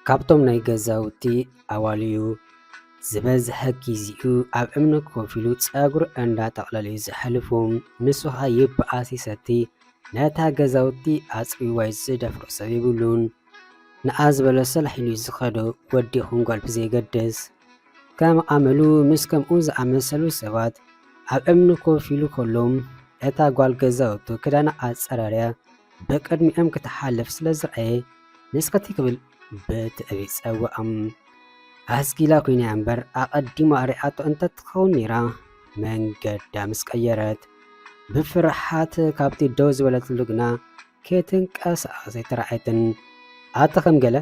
ካብቶም ናይ ገዛውቲ ኣዋልዩ ዝበዝሐ ጊዜኡ ኣብ እምኒ ኮፍ ኢሉ ፀጉሩ እንዳጠቕለለ እዩ ዘሕልፍ። ንሱ ኸኣ ይብኣስ ይሰቲ ነታ ገዛውቲ ኣፅርይዋ እዩ ዝደፍሮ ሰብ የብሉን። ንኣ ዝበሎ ሰላሕ ኢሉ እዩ ዝኸዶ ወድ ይኹን ጓል ብዘየገድስ። ከም ኣመሉ ምስ ከምኡ ዝኣመሰሉ ሰባት ኣብ እምኒ ኮፍ ኢሉ ከሎ፣ እታ ጓል ገዛውቱ ክዳና ኣጸራርያ ብቕድሚኦም ክትሓልፍ ስለ ዝረኣየ፣ ንስኪ ክብል ብትዕቢት ጸውኣም። ኣስጊላ ኮይና እምበር ኣቐዲማ ርኣቶ እንተ ትኸውን ነይራ መንገዳ ምስ ቀየረት፣ ብፍርሓት ካብቲ ደው ዝበለትሉ ግና ከይትንቀሳቐስ ኣይተራእየትን። ኣቲ ከም ገለ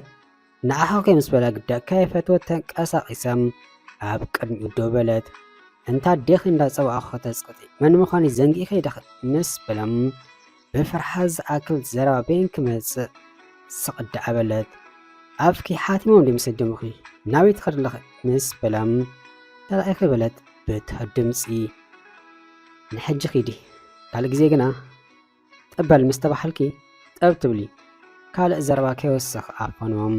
ንዓኻ ኮይ ምስ በላ ግዳ ከይፈተወት ተንቀሳቒሳ ኣብ ቅድሚኡ ደው በለት። እንታ ኣዴኺ እንዳጸዋዕኹ ከተጽቕጢ መን ምዃነይ ዘንጊዕኺ ዲኺ? ምስ በላ ብፍርሓት ዝኣክል ዘረባ በይን ክመጽእ ስቕ ደኣ በለት። ኣፍኪ ሓቲሞም ድዮም ሰደሙኺ? ናበይ ትኸዲ ኣለኺ? ምስ በላ ተራኢኺ በለት ብትሑት ድምጺ። ንሕጂ ኺዲ ካልእ ግዜ ግና ጥበል ምስ ተባሃልኪ ጠብ ትብሊ ካልእ ዘረባ ከይወስኽ ኣፈኖም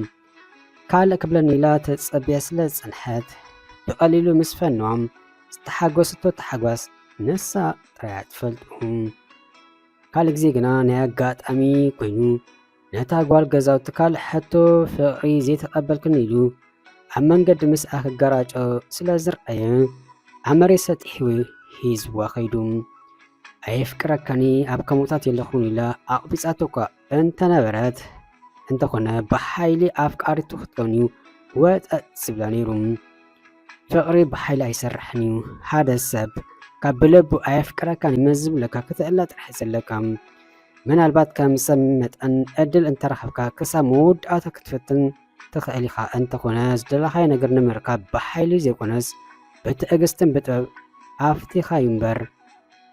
ካልእ ክብለኒ ኢላ ተጸብየ ስለ ዝጸንሐት ብቐሊሉ ምስ ፈኖም ዝተሓጎስቶ ተሓጓስ ንሳ ጥራያ ትፈልጡ ካልእ ግዜ ግና ናይ ኣጋጣሚ ኮይኑ ነታ ጓል ገዛውቲ ካልእ ሕቶ ፍቕሪ ዘይተቐበልክን ኢሉ ኣብ መንገዲ ምስኣ ክገራጮ ስለ ዝርኣየ ኣብ መሬት ሰጢሑ ሂዝዋ ከይዱ። ኣየፍቅረካኒ ኣብ ከምኡታት የለኹን ኢላ ኣቕቢጻቶ እኳ እንተነበረት እንተኾነ ብሓይሊ ኣፍቃሪቱ ክትከውን እዩ ወጠጥ ዝብላ ነይሩ። ፍቕሪ ብሓይሊ ኣይሰርሕን እዩ ሓደ ሰብ ካብ ብለቡ ኣየፍቅረካን መዝብለካ ክትእለ ጥራሕ ዘለካ ምናልባት ከም ሰብ መጠን ዕድል እንተረኸብካ ክሳብ መወዳእታ ክትፍትን ትኽእል ኢኻ። እንተኾነ ዝደለኻዮ ነገር ንምርካብ ብሓይሊ ዘይኮነስ ብትዕግስትን ብጥበብ ኣፍቲኻ እዩ እምበር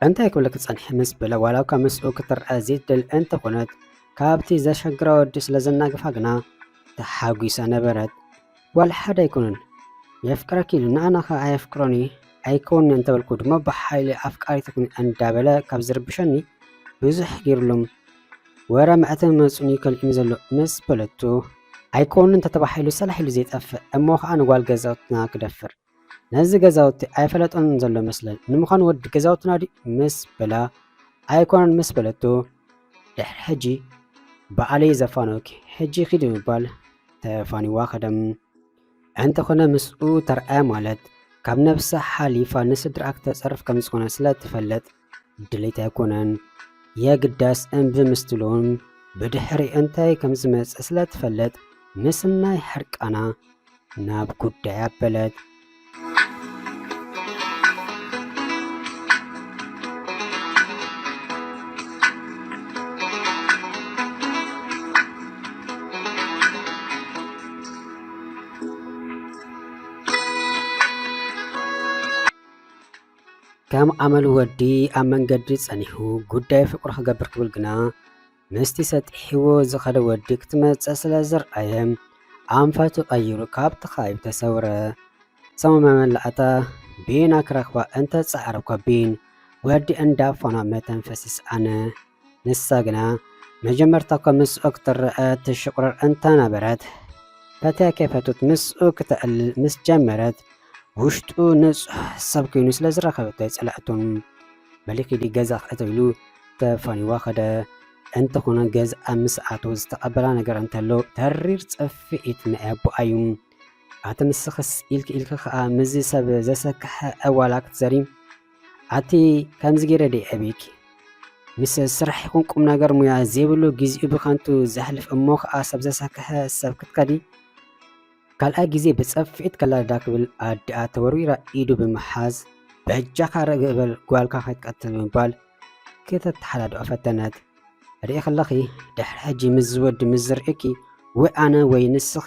እንታይ ክብል ክጸንሐ ምስ በለ ዋላ እኳ ምስኡ ክትርአ ዘይትደል እንተኾነት ካብቲ ዘሸግራ ወዲ ስለ ዘናግፋ ግና ተሓጒሳ ነበረት። ጓል ሓደ ኣይኮነን የፍቅረኪ ኢሉ ንኣና ከ ኣየፍቅሮን እዩ ኣይከውንን እንተበልኩ ድማ ብሓይሊ ኣፍቃሪት ኩኒ እንዳበለ ካብ ዝርብሸኒ ብዙሕ ገይሩሎም ወረ መዕተብ መፅኡኒ ከልእኒ ዘሎ ምስ በለቱ ኣይከውንን ተተባሂሉ ሰላሕ ኢሉ ዘይጠፍእ እሞ ከዓ ንጓል ገዛውትና ክደፍር ነዚ ገዛውቲ ኣይፈለጦን ዘሎ መስለኒ ንምዃኑ ወዲ ገዛውትና ድዩ ምስ በላ ኣይኮነን ምስ በለቶ ድሕሪ ሕጂ በዓለይ ዘፋነውኪ ሕጂ ኪዲ ምባል ተፋኒዋ ከደም እንተኾነ ምስኡ ተርኣያ ማለት ካብ ነብሳ ሓሊፋ ንስድራኣ ክተፀርፍ ከም ዝኾነ ስለ ትፈልጥ ድሌት ኣይኮነን የግዳስ እምቢ ምስትሉን ብድሕሪ እንታይ ከም ዝመጽእ ስለ ትፈልጥ ምስናይ ሕርቃና ናብ ጉዳይ ኣበለት ከም ኣመሉ ወዲ ኣብ መንገዲ ጸኒሑ ጉዳይ ፍቅሩ ክገብር ክብል ግና ምስቲ ሰጢሕዎ ዝኸደ ወዲ ክትመጽእ ስለ ዝርኣየ ኣንፈቱ ቀይሩ ካብቲ ከባቢ ተሰውረ። ሰሙ መመላእታ ቢና ክረኽባ እንተ ጻዕረ እኳ ቢን ወዲ እንዳፋና መተንፈሲ ሰኣነ። ንሳ ግና መጀመርታ እኳ ምስኡ ክትረኣ ትሽቑርር እንተ ነበረት፣ ፈትያ ከይፈተወት ምስኡ ክተዕልል ምስ ጀመረት፣ ውሽጡ ንጹሕ ሰብ ኮይኑ ስለ ዝረኸበቶ ኣይጸልኣቶ። በሊ ኪዲ ገዛኽ እተው ኢሉ ተፋንዩዋ ከደ። እንተኾነ ገዝኣ ምስ ኣተወ ዝተቐበላ ነገር እንተሎ ተሪር ጽፍዒት ናይ ኣቦኣ እዩ። ኣቲ ንስኽስ ኢልኪ ኢልኪ ከኣ ምስዚ ሰብ ዘሰክሐ ዕዋላ ክትዘሪ ኣቲ ከምዚ ጌረ ደይ ዕብየኪ ምስ ስራሕ ይኹን ቁም ነገር ሙያ ዘይብሉ ግዜኡ ብከንቱ ዘሕልፍ እሞ ከዓ ሰብ ዘሰክሐ ሰብ ክትከዲ ካልኣይ ግዜ ብፀፍዒት ከላዳ ክብል ኣዲኣ ተወርዊራ ኢዱ ብምሓዝ በጃኻ ርግእ በል ጓልካ ከይትቀትል ብምባል ክተተሓዳድኦ ፈተነት ርኢ ከለኺ ድሕሪ ሕጂ ምስ ዝወዲ ምስ ዝርእኪ ወይ ኣነ ወይ ንስኺ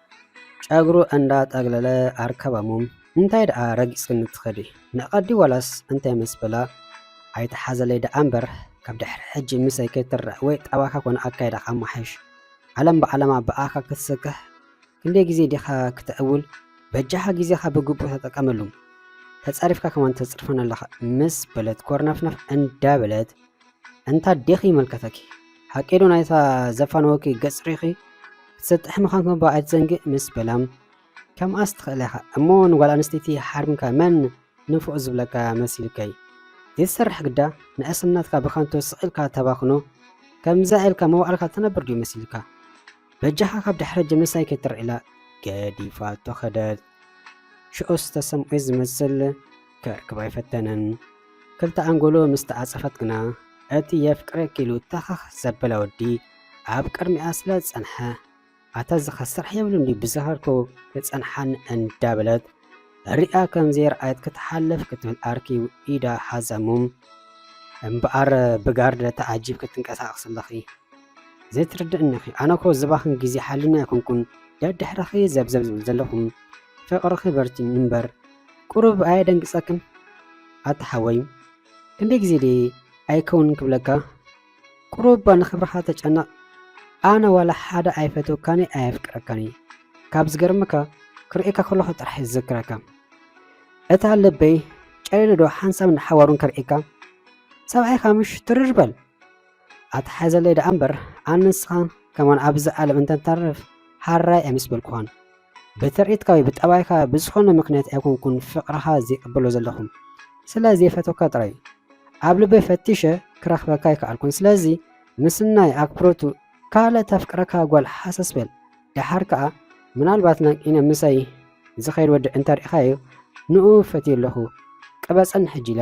ጨጉሩ እንዳ ጠግለለ ኣርከበሙም እንታይ ደኣ ረጊጽክኒ ትከዲ ንቀዲ ዋላስ እንታይ ምስ በላ ኣይትሓዘለይ ደኣ እምበር ካብ ድሕሪ ሕጂ ምሰይ ከይትርእ ወይ ጠባካ ኮነ ኣካይዳካ ኣማሓይሽ ዓለም ብዓለማ ብኣካ ክትስክሕ ክንደይ ግዜ ዲካ ክተዕውል በጃካ ግዜካ ብግቡእ ተጠቀመሉ ተጸሪፍካ ከማን ተጽርፈን ኣለካ ምስ በለት ኮርነፍነፍ እንዳበለት እንታ ዴኺ ይመልከተኪ ሓቂዶ ናይታ ዘፋነወኪ ገጽ ሪኺ ክትሰጥሒ ምዃን ከባ ኣይትዘንግእ ምስ በላም ከምኣስ ትኽእል ኢኻ እሞ ንጓል ኣንስተይቲ ሓርምካ መን ንፉዕ ዝብለካ መሲልከይ ዘይትሰርሕ ግዳ ንእስነትካ ብከንቱ ስቕ ኢልካ ተባኽኖ ከምዛ ኢልካ መዋዕልካ ትነብር ድዩ መሲልካ በጃኻ ካብ ድሕሪ ጀኖሳይ ከይትርዒላ ገዲፋቶ ከደት ሽዑስ ተሰምዔ ዝመስል ክዕቅብ ኣይፈተነን። ክልተ ኣንጎሎ ምስ ተዓጸፈት ግና እቲ የፍቅረኪ ኢሉ ተኸኽ ዘበለ ወዲ ኣብ ቅድሚኣ ስለ ዝጸንሐ ኣታ ዝኸ ስራሕ የብሉን ድዩ ብዝኸርኩ ክጸንሓኒ እንዳ በለት ሪኣ ከም ዘይረኣየት ክትሓልፍ ክትብል ኣርኪ ኢዳ ሓዛሙም እምበኣር ብጋርድ ተዓጂብ ክትንቀሳቐስ ኣለኺ ዘይትርድእኒኺ ኣነኮ ዝባኽን ግዜ ሓልዩኒ ኣይኮንኩን ደድሕርኺ እየ ዘብዘብ ዝብል ዘለኹ ፍቅርኺ በርቲዑ እምበር ቁሩብ ኣየደንግጸክን ኣታ ሓወይ ክንደይ ግዜ ድየ ኣይከውንን ክብለካ ቁሩብ እባ ንክብርኻ ተጨነቅ ኣነ ዋላ ሓደ ኣይፈትወካን እየ ኣየፍቅረካን እየ ካብ ዝገርመካ ክርእየካ ከለኹ ጥራሕ እየ ዝዝክረካ እታ ልበይ ጨሊሉ ዶ ሓንሳብን ሓዋሩን ከርእየካ ሰብኣይካ ምሽ ትርር በል ኣትሓዘለይ ደኣ እምበር ኣን ንስኻ ከማን ኣብዚ ዓለም እንተንተርፍ ሃራይ ኣይምስበልኩኻን ብትርኢትካ ወይ ብጠባይካ ብዝኾነ ምክንያት ኣይኮንኩን ፍቅርኻ ዘይቅበሎ ዘለኹም ስለ ዘይፈተካ ጥራይ ኣብ ልበይ ፈቲሸ ክረኽበካ ኣይከኣልኩን ስለዚ ምስናይ ኣክብሮቱ ካልእ ተፍቅረካ ጓል ሓሰስ በል ደሓር ከኣ ምናልባት ናንቂነ ምሳይ ዝኸይድ ወዲ እንተርኢኻዮ ንኡ ፈትየ ኣለኹ ቅበጸን ሕጂ ኢላ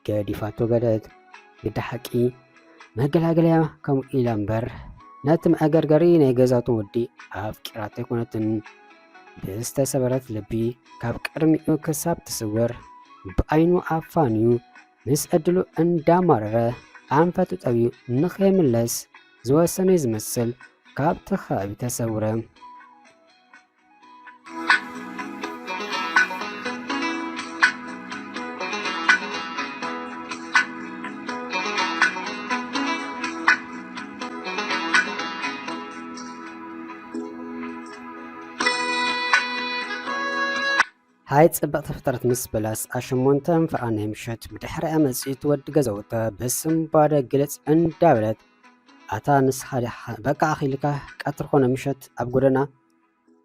ገዲፋቶ በለት ግዲ ሓቂ መገላገለያ ከምኡ ኢላ እምበር ነቲ መዕገርገሪ ናይ ገዛቱ ወዲ ኣፍቂራቶ ኣይኮነትን ብዝተሰበረት ልቢ ካብ ቅድሚኡ ክሳብ ትስወር ብኣይኑ ኣፋንዩ ምስ ዕድሉ እንዳማረረ ኣንፈቱ ጠብዩ ንኸይምለስ ዝወሰነ ዝመስል ካብቲ ከባቢ ተሰውረ ሃይ ጽብቕቲ ፍጥረት ምስ በለስ ኣሸሞንተ እንፍራ ናይ ምሸት ብድሕሪ ኣመጺት ወዲ ገዘውተ ብስምባደ ግልጽ እንዳበለት ኣታ ንስኻ ዲኻ በቃ ኣኺልካ ቀትሪ ኮነ ምሸት ኣብ ጎደና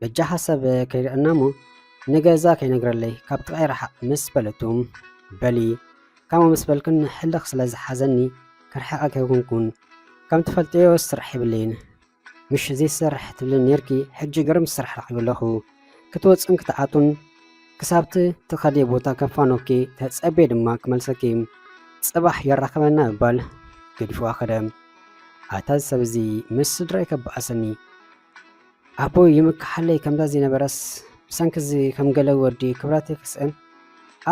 በጃ ሓሳብ ከይርዕና እሞ ንገዛ ከይነግረለይ ካብ ጥቓይ ረሓቕ ምስ በለቱ በሊ ከምኡ ምስ በልክን ሕልኽ ስለ ዝሓዘኒ ክርሕቐ ከይኩንኩን ከም ትፈልጥዮ ስራሕ የብለይን ምሽ ዘይሰርሕ ትብልን ነርኪ ሕጂ ግርም ስራሕ ረኺቡ ኣለኹ ክትወፅን ክትኣቱን ክሳብቲ ትኸዲ ቦታ ከፋኖኪ ተፀቤ ድማ ክመልሰኪ ፅባሕ የራኽበና ምባል ገዲፍዋ ከደ ኣታ ሰብ እዚ ምስ ስድራይ ከበኣሰኒ ኣቦይ ይምክሓለይ ከምዛ ዝነበረስ ብሰንኪ እዚ ከም ገለ ወዲ ክብራት የክስእን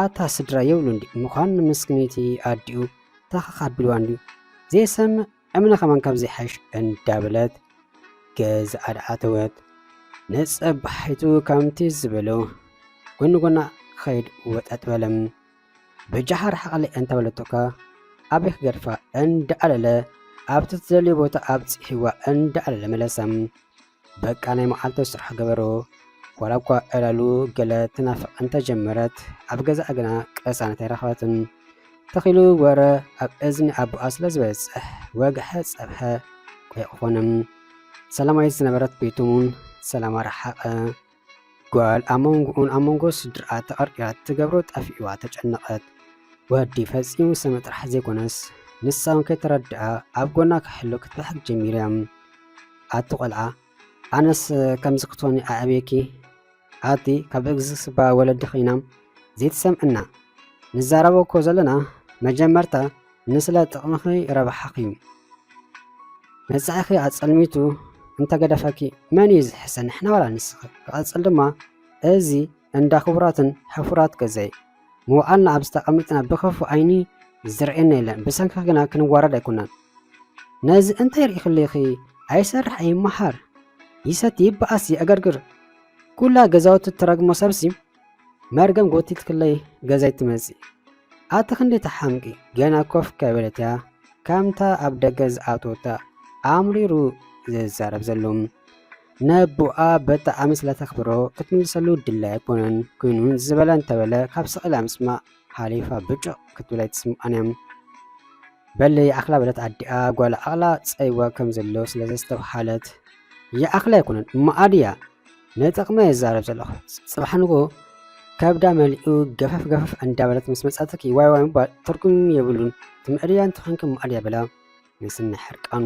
ኣታ ስድራ የብሉ እንዲ ምዃን ንምስክኒቲ ኣዲኡ ታኸኽ ኣቢልዋ እንዲ ዘይሰምዕ እምነ ከማን ካብ ዘይሓሽ እንዳበለት ገዝኣ ኣተወት ነፀባሒቱ ከምቲ ዝበሎ ጎኒ ጎና ክኸይድ ወጠጥ በለም በጃኻ ርሓቐለይ ኣንታ በለቶካ ኣበይ ክገድፋ እንዳኣለለ ኣብቲ ትደልዮ ቦታ ኣብፂሒዋ እንዳኣለለ መለሳ በቃ ናይ መዓልቱ ስራሕ ገበሮ ዋላ እኳ ዕላሉ ገለ ትናፍቅ እንተጀመረት ኣብ ገዛኣ ግና ቅሳነት ኣይረኸበትን ተኺሉ ወረ ኣብ እዝኒ ኣቦኣ ስለ ዝበፅሕ ወግሐ ፀብሐ ኮይቁኾንም ሰላማዊት ዝነበረት ቤቱን ሰላማ ረሓቐ ጓል ኣብ መንጎኡን ኣብ መንጎ ስድርኣ ተቐርቂራ እትገብሮ ጠፊኡዋ ተጨነቐት። ወዲ ፈጺሙ ሰመ ጥራሕ ዘይኮነስ ንሳ እውን ከይተረድኣ ኣብ ጎና ክሕሎ ክትበሕግ ጀሚራ። ኣቲ ቆልዓ ኣነስ ከምዚ ክትኾኒ ኣዕብየኪ ኣቲ ካብ እግዝስባ ወለዲ ኸይና ዘይትሰምዕና ንዛረቦ እኮ ዘለና መጀመርታ ንስለ ጥቕምኺ ረብሓኺ መጻኢኺ ኣጸልሚቱ እንተገደፈኪ መን እዩ ዝሕሰ ንሕና ዋላ ንስኺ ክቐጽል ድማ እዚ እንዳ ክቡራትን ሕፉራት ገዛይ ምውዓልና ኣብ ዝተቐምጥና ብክፉእ ዓይኒ ዝርእየና የለን ብሰንኪ ግና ክንዋረድ ኣይኮናን ነዚ እንታይ ርኢኽልኺ ኣይሰርሕ ኣይመሃር ይሰቲ ይበኣስ ይዕገርግር ኩላ ገዛውቲ ትረግሞ ሰብሲ መርገም ጎቲትክለይ ገዛይ ትመጽእ ኣቲ ክንዲ ተሓምቂ ገና ኮፍ ከበለት እያ ከምታ ኣብ ደገ ዝኣተወታ ኣምሪሩ ዝዛረብ ዘሎ ነቦኣ በጣዕሚ ስለተኽብሮ ክትምልሰሉ ድላይ ኣይኮነን ኮይኑ ዝበለ እንተበለ ካብ ስቕላ ምስማዕ ሓሊፋ ብጭቕ ክትብል ኣይትስምዖን እያ። በሊ ይኣኽላ በለት ኣዲኣ ጓላ ኣቕላ ጸይዋ ከም ዘሎ ስለ ዘስተብሃለት። ይኣኽላ ኣይኮነን እሞ ኣድያ ንጥቕመ ይዛረብ ዘለኹ ጽባሕ ንጎ ከብዳ መሊኡ ገፈፍ ገፈፍ እንዳበለት ምስ መጻትኪ ዋይ ዋይ ምባል ትርጉም የብሉን ትምዕድያን ትኾንኪ እሞ ኣድያ በላ ምስና ሕርቃኑ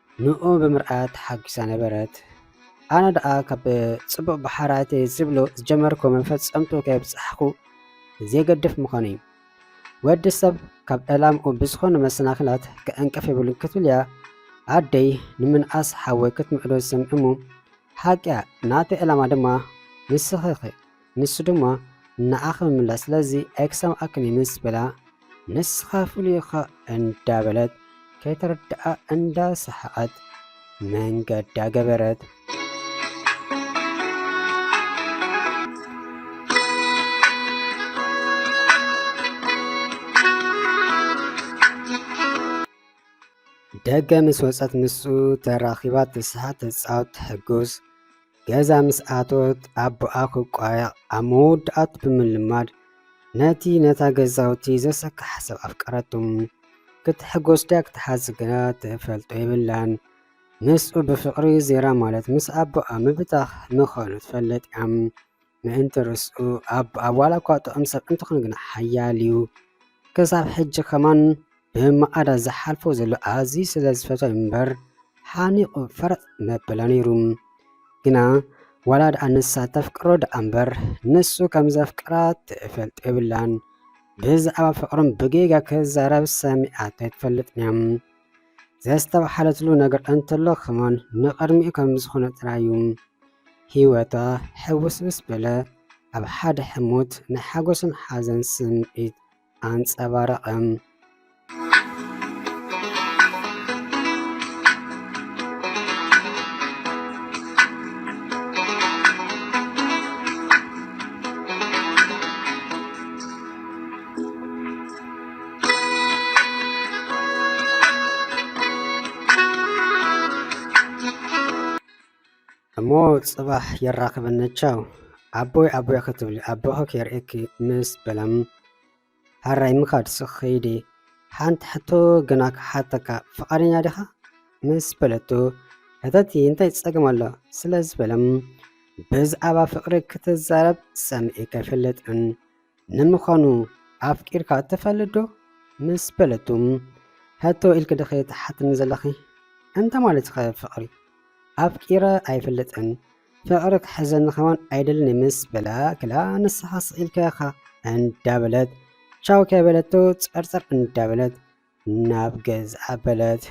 ንኡ ብምርኣያ ተሓጒሳ ነበረት። ኣነ ደኣ ካብ ጽቡቕ ብሓራተይ ዝብሉ ዝጀመርኩ መፈጸምቱ ከየብጻሕኩ ዜገድፍ ምዃኑ'ዩ። ወዲ ሰብ ካብ ዕላምኡ ብዝኾኑ መሰናኽላት ክዕንቅፍ የብሉን ክትብል'ያ ኣደይ ንምንኣስ ሓወይ ክትምዕዶ ዝሰምዕ'ሞ፣ ሓቂ'ያ፣ ናተይ ዕላማ ድማ ንስኺ'ኺ። ንሱ ድማ ንኣኽ ብምምላስ ስለዚ ኤክሳም ኣክኒ ምስ በላ ንስኻ ፍሉይ እኻ እንዳበለት ከይተረድኣ እንዳሰሓቐት መንገዳ ገበረት። ደገ ምስ ወፀት ምስኡ ተራኺባ ትስሓቅ፣ ትፃወት፣ ትሕጉስ ገዛ ምስ ኣተወት ኣቦኣ ክቋየቕ ኣብ መወዳእቱ ብምልማድ ነቲ ነታ ገዛውቲ ዘሰክሓ ሰብ ኣፍቀረቱ። ክትሕጎስ ድያ ክትሓዝ ግና ትፈልጦ የብላን። ምስኡ ብፍቕሪ ዜራ ማለት ምስ ኣቦኣ ምብታኽ ምዃኑ ትፈልጥ እያ። ምእንቲ ርስኡ ኣብ ኣብ ዋላ እኳ ጥዑም ሰብ እንተኾነ ግና ሓያል እዩ። ክሳብ ሕጂ ከማን ብማዕዳ ዝሓልፎ ዘሎ ኣዝዩ ስለ ዝፈትዎ እምበር ሓኒቑ ፈረጥ መበለ ነይሩ። ግና ዋላ ደኣ ንሳ ተፍቅሮ ደኣ እምበር ንሱ ከም ዘፍቅራ ትፈልጥ የብላን። ብዛዕባ ፍቕሮም ብጌጋ ክዛረብ ሰሚዓቶ ኣይትፈልጥን እያ። ዘስተብሃለትሉ ነገር እንተሎ ከማን ንቕድሚኡ ከም ዝኾነ ጥራዩ ህይወታ ሕውስውስ በለ። ኣብ ሓደ ሕሞት ናይ ሓጎስን ሓዘን ስምዒት ኣንጸባረቐ። እሞ ጽባሕ የራኽበና ቻው ኣቦይ ኣቦይ ክትብሊ ኣቦኺ ከርእኪ ምስ በለም ሃራይ ምኻድ ስኽ ከይዲ ሓንቲ ሕቶ ግና ክሓተካ ፍቓደኛ ዲኻ ምስ በለቶ ሕተቲ እንታይ ጸገም ኣሎ ስለ ዝበለም ብዛዕባ ፍቕሪ ክትዛረብ ሰምዒ ከይፈልጥን ንምዃኑ ኣፍቂርካ ትፈልጥ ዶ ምስ በለቱ ሕቶ ኢልኪ ድኺ ትሓትኒ ዘለኺ? እንታይ ማለትኺ ፍቕሪ? ኣፍቂረ ኣይፈልጥን ፍቕሪ ክሕዘኒ ከማን ኣይደልን ምስ በላ ክላ ንስኻ ስኢልካ ኢኻ እንዳበለት ቻው ከይበለቶ ጸርጸር እንዳበለት ናብ ገዝ ኣበለት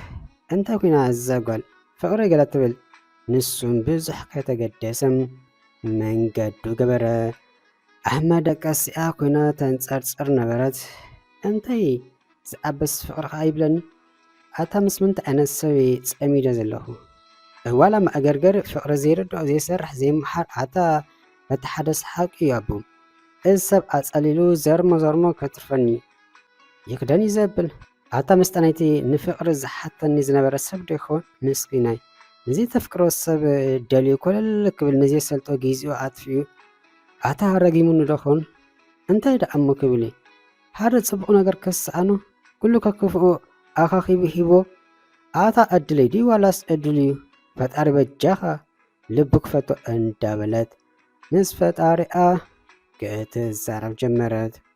እንተ ኩና እዛ ጓል ፍቅሪ ገለ ትብል ንሱም ብዙሕ ከይተገደሰ መንገዱ ገበረ ኣብ መደቀሲኣ ኩና ተንጸርጽር ነበረት እንታይ ዝኣበስ ፍቅሪ ከኣ ይብለኒ ኣታ ምስ ምንታይ ዓይነት ሰብ እየ ጸሚደ ዘለኩ ዋላ መእገርገሪ ፍቅሪ ዘይርድኦ ዘይሰርሕ ዘይመሓር ኣታ በቲ ሓደ ሰሓቅ እዩ ኣቡ እዚ ሰብ ኣጸሊሉ ዘርሞ ዘርሞ ከትርፈኒ ይኽደን እዩ ዘብል ኣታ መስጠናይቲ ንፍቕሪ ዝሓተኒ ዝነበረ ሰብ ዶ ይኸውን ምስኪናይ ንዚ ተፍቅሮ ሰብ ደልዩ ኮለል ክብል ንዘይሰልጦ ጊዜኡ ኣጥፊኡ ኣታ ረጊሙኒ ዶ ኹን እንታይ ደኣ እሞ ክብል እዩ ሓደ ጽቡቕ ነገር ከሰኣኖ ኩሉ ከክፍኡ ኣኻኺቡ ሂቦ ኣታ ዕድለይ ድዩ ዋላስ ዕድል እዩ ፈጣሪ በጃኻ ልቡ ክፈቶ እንዳበለት ምስ ፈጣሪኣ ክትዛረብ ጀመረት።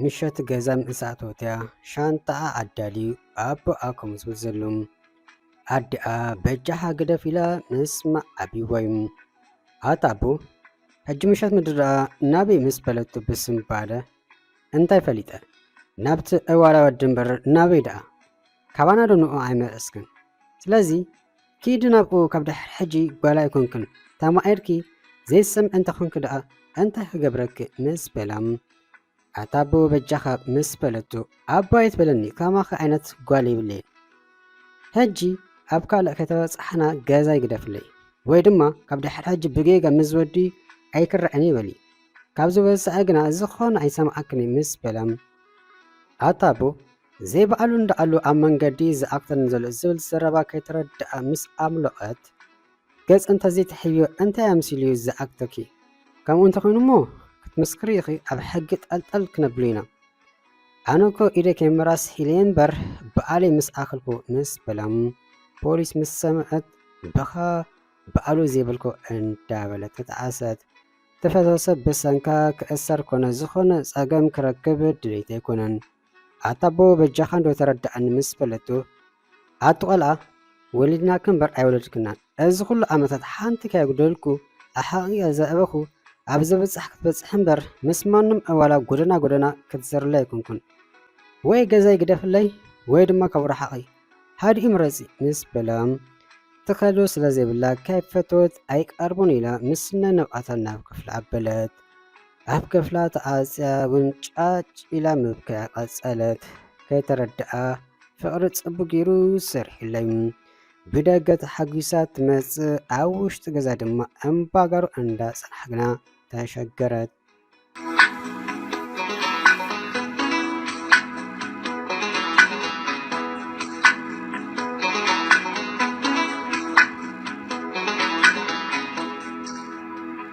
ምሸት ገዛ ምስ ኣተወትያ ሻንጣኣ ኣዳልዩ ኣቦኣ ከምዝብል ዘሎ ኣዲኣ በጃኻ ግደፍ ኢላ ምስማዕ ኣብይዎዩ ኣታ ኣቦ ሕጂ ምሸት ምድረኣ ናበይ ምስ በለቱ ብስምባደ እንታይ ፈሊጠ ናብቲ ዕዋላ ወዲ እምበር ናበይ ደኣ ካባና ዶ ንዑ ኣይመለስክን ስለዚ ኪዲ ናብኡ ካብ ድሕር ሕጂ ጓል ኣይኮንክን ተማኢርኪ ዘይትሰምዒ እንተኮንኪ ደኣ እንታይ ክገብረኪ ምስ በላ ኣታ ኣቦ በጃኻ ምስ በለቶ ኣቦ ኣይትበለኒ ከማኺ ዓይነት ጓል የብለይን ሕጂ ኣብ ካልእ ከተበፅሓና ገዛ ይግደፍለይ ወይ ድማ ካብ ድሕር ሕጂ ብጌጋ ምስ ወዲ ኣይክረዐን ይበሊ ካብዚ ወፃኢ ግና ዝኾነ ኣይሰምዓክን ምስ በላ ኣታ ኣቦ ዘይበኣሉ እንዳኣሉ ኣብ መንገዲ ዝኣክተኒ ዘሎ ዝብል ዘረባ ከይተረደኣ ምስ ኣምሎቐት ገጽ እንተዘይትሕብዮ እንታይ ኣምሲሉ እዩ ዝኣክተኪ ከምኡ እንተኾይኑ እሞ ክትምስክሪ ኢኺ ኣብ ሕጊ ጠልጠል ክነብሉ ኢና ኣነ እኮ ኢደ ከይምራስ ሒለ እምበር በኣለይ ምስ ኣክልኩ ምስ በሎም ፖሊስ ምስ ሰምዐት በኻ በኣሉ ዘይብልኩ እንዳበለት ተጣዓሰት ተፈሰሰ ብሰንካ ክእሰር ኮነ ዝኾነ ጸገም ክረክብ ድሌት ኣይኮነን ኣታ ኣቦ በጃኻ እንዶ ተረድኣኒ ምስ በለቶ፣ ኣቲ ቆልኣ ወሊድናኪ እምበር ኣይወለድክናን፣ እዚ ኩሉ ዓመታት ሓንቲ ከየጉደልኩ ኣሕቒቐ ዘዕበኹ ኣብ ዘብጽሕ ክትበጽሒ እምበር ምስ ማንም ዕዋላ ጎደና ጎደና ክትዘርሊ ኣይኮንኩን። ወይ ገዛይ ግደፍለይ ወይ ድማ ካብ ርሓቒ ሓዲኡ ምረጺ ምስ በላ፣ ትኸዶ ስለ ዘይብላ ከይፈተወት ኣይቀርቦን ኢላ ምስ ስናይ ነብዓታ ናብ ክፍላ ኣበለት። ኣብ ክፍላ ተዓጽያ እውን ጫጭ ኢላ ምብካያ ቀጸለት። ከይተረድኣ ፍቕሪ ጽቡቕ ገይሩ ሰሪሑለይ። ብደገ ተሓጒሳ ትመጽእ፣ ኣብ ውሽጢ ገዛ ድማ እምባጋሩ እንዳጸናሕግና ተሸገረት።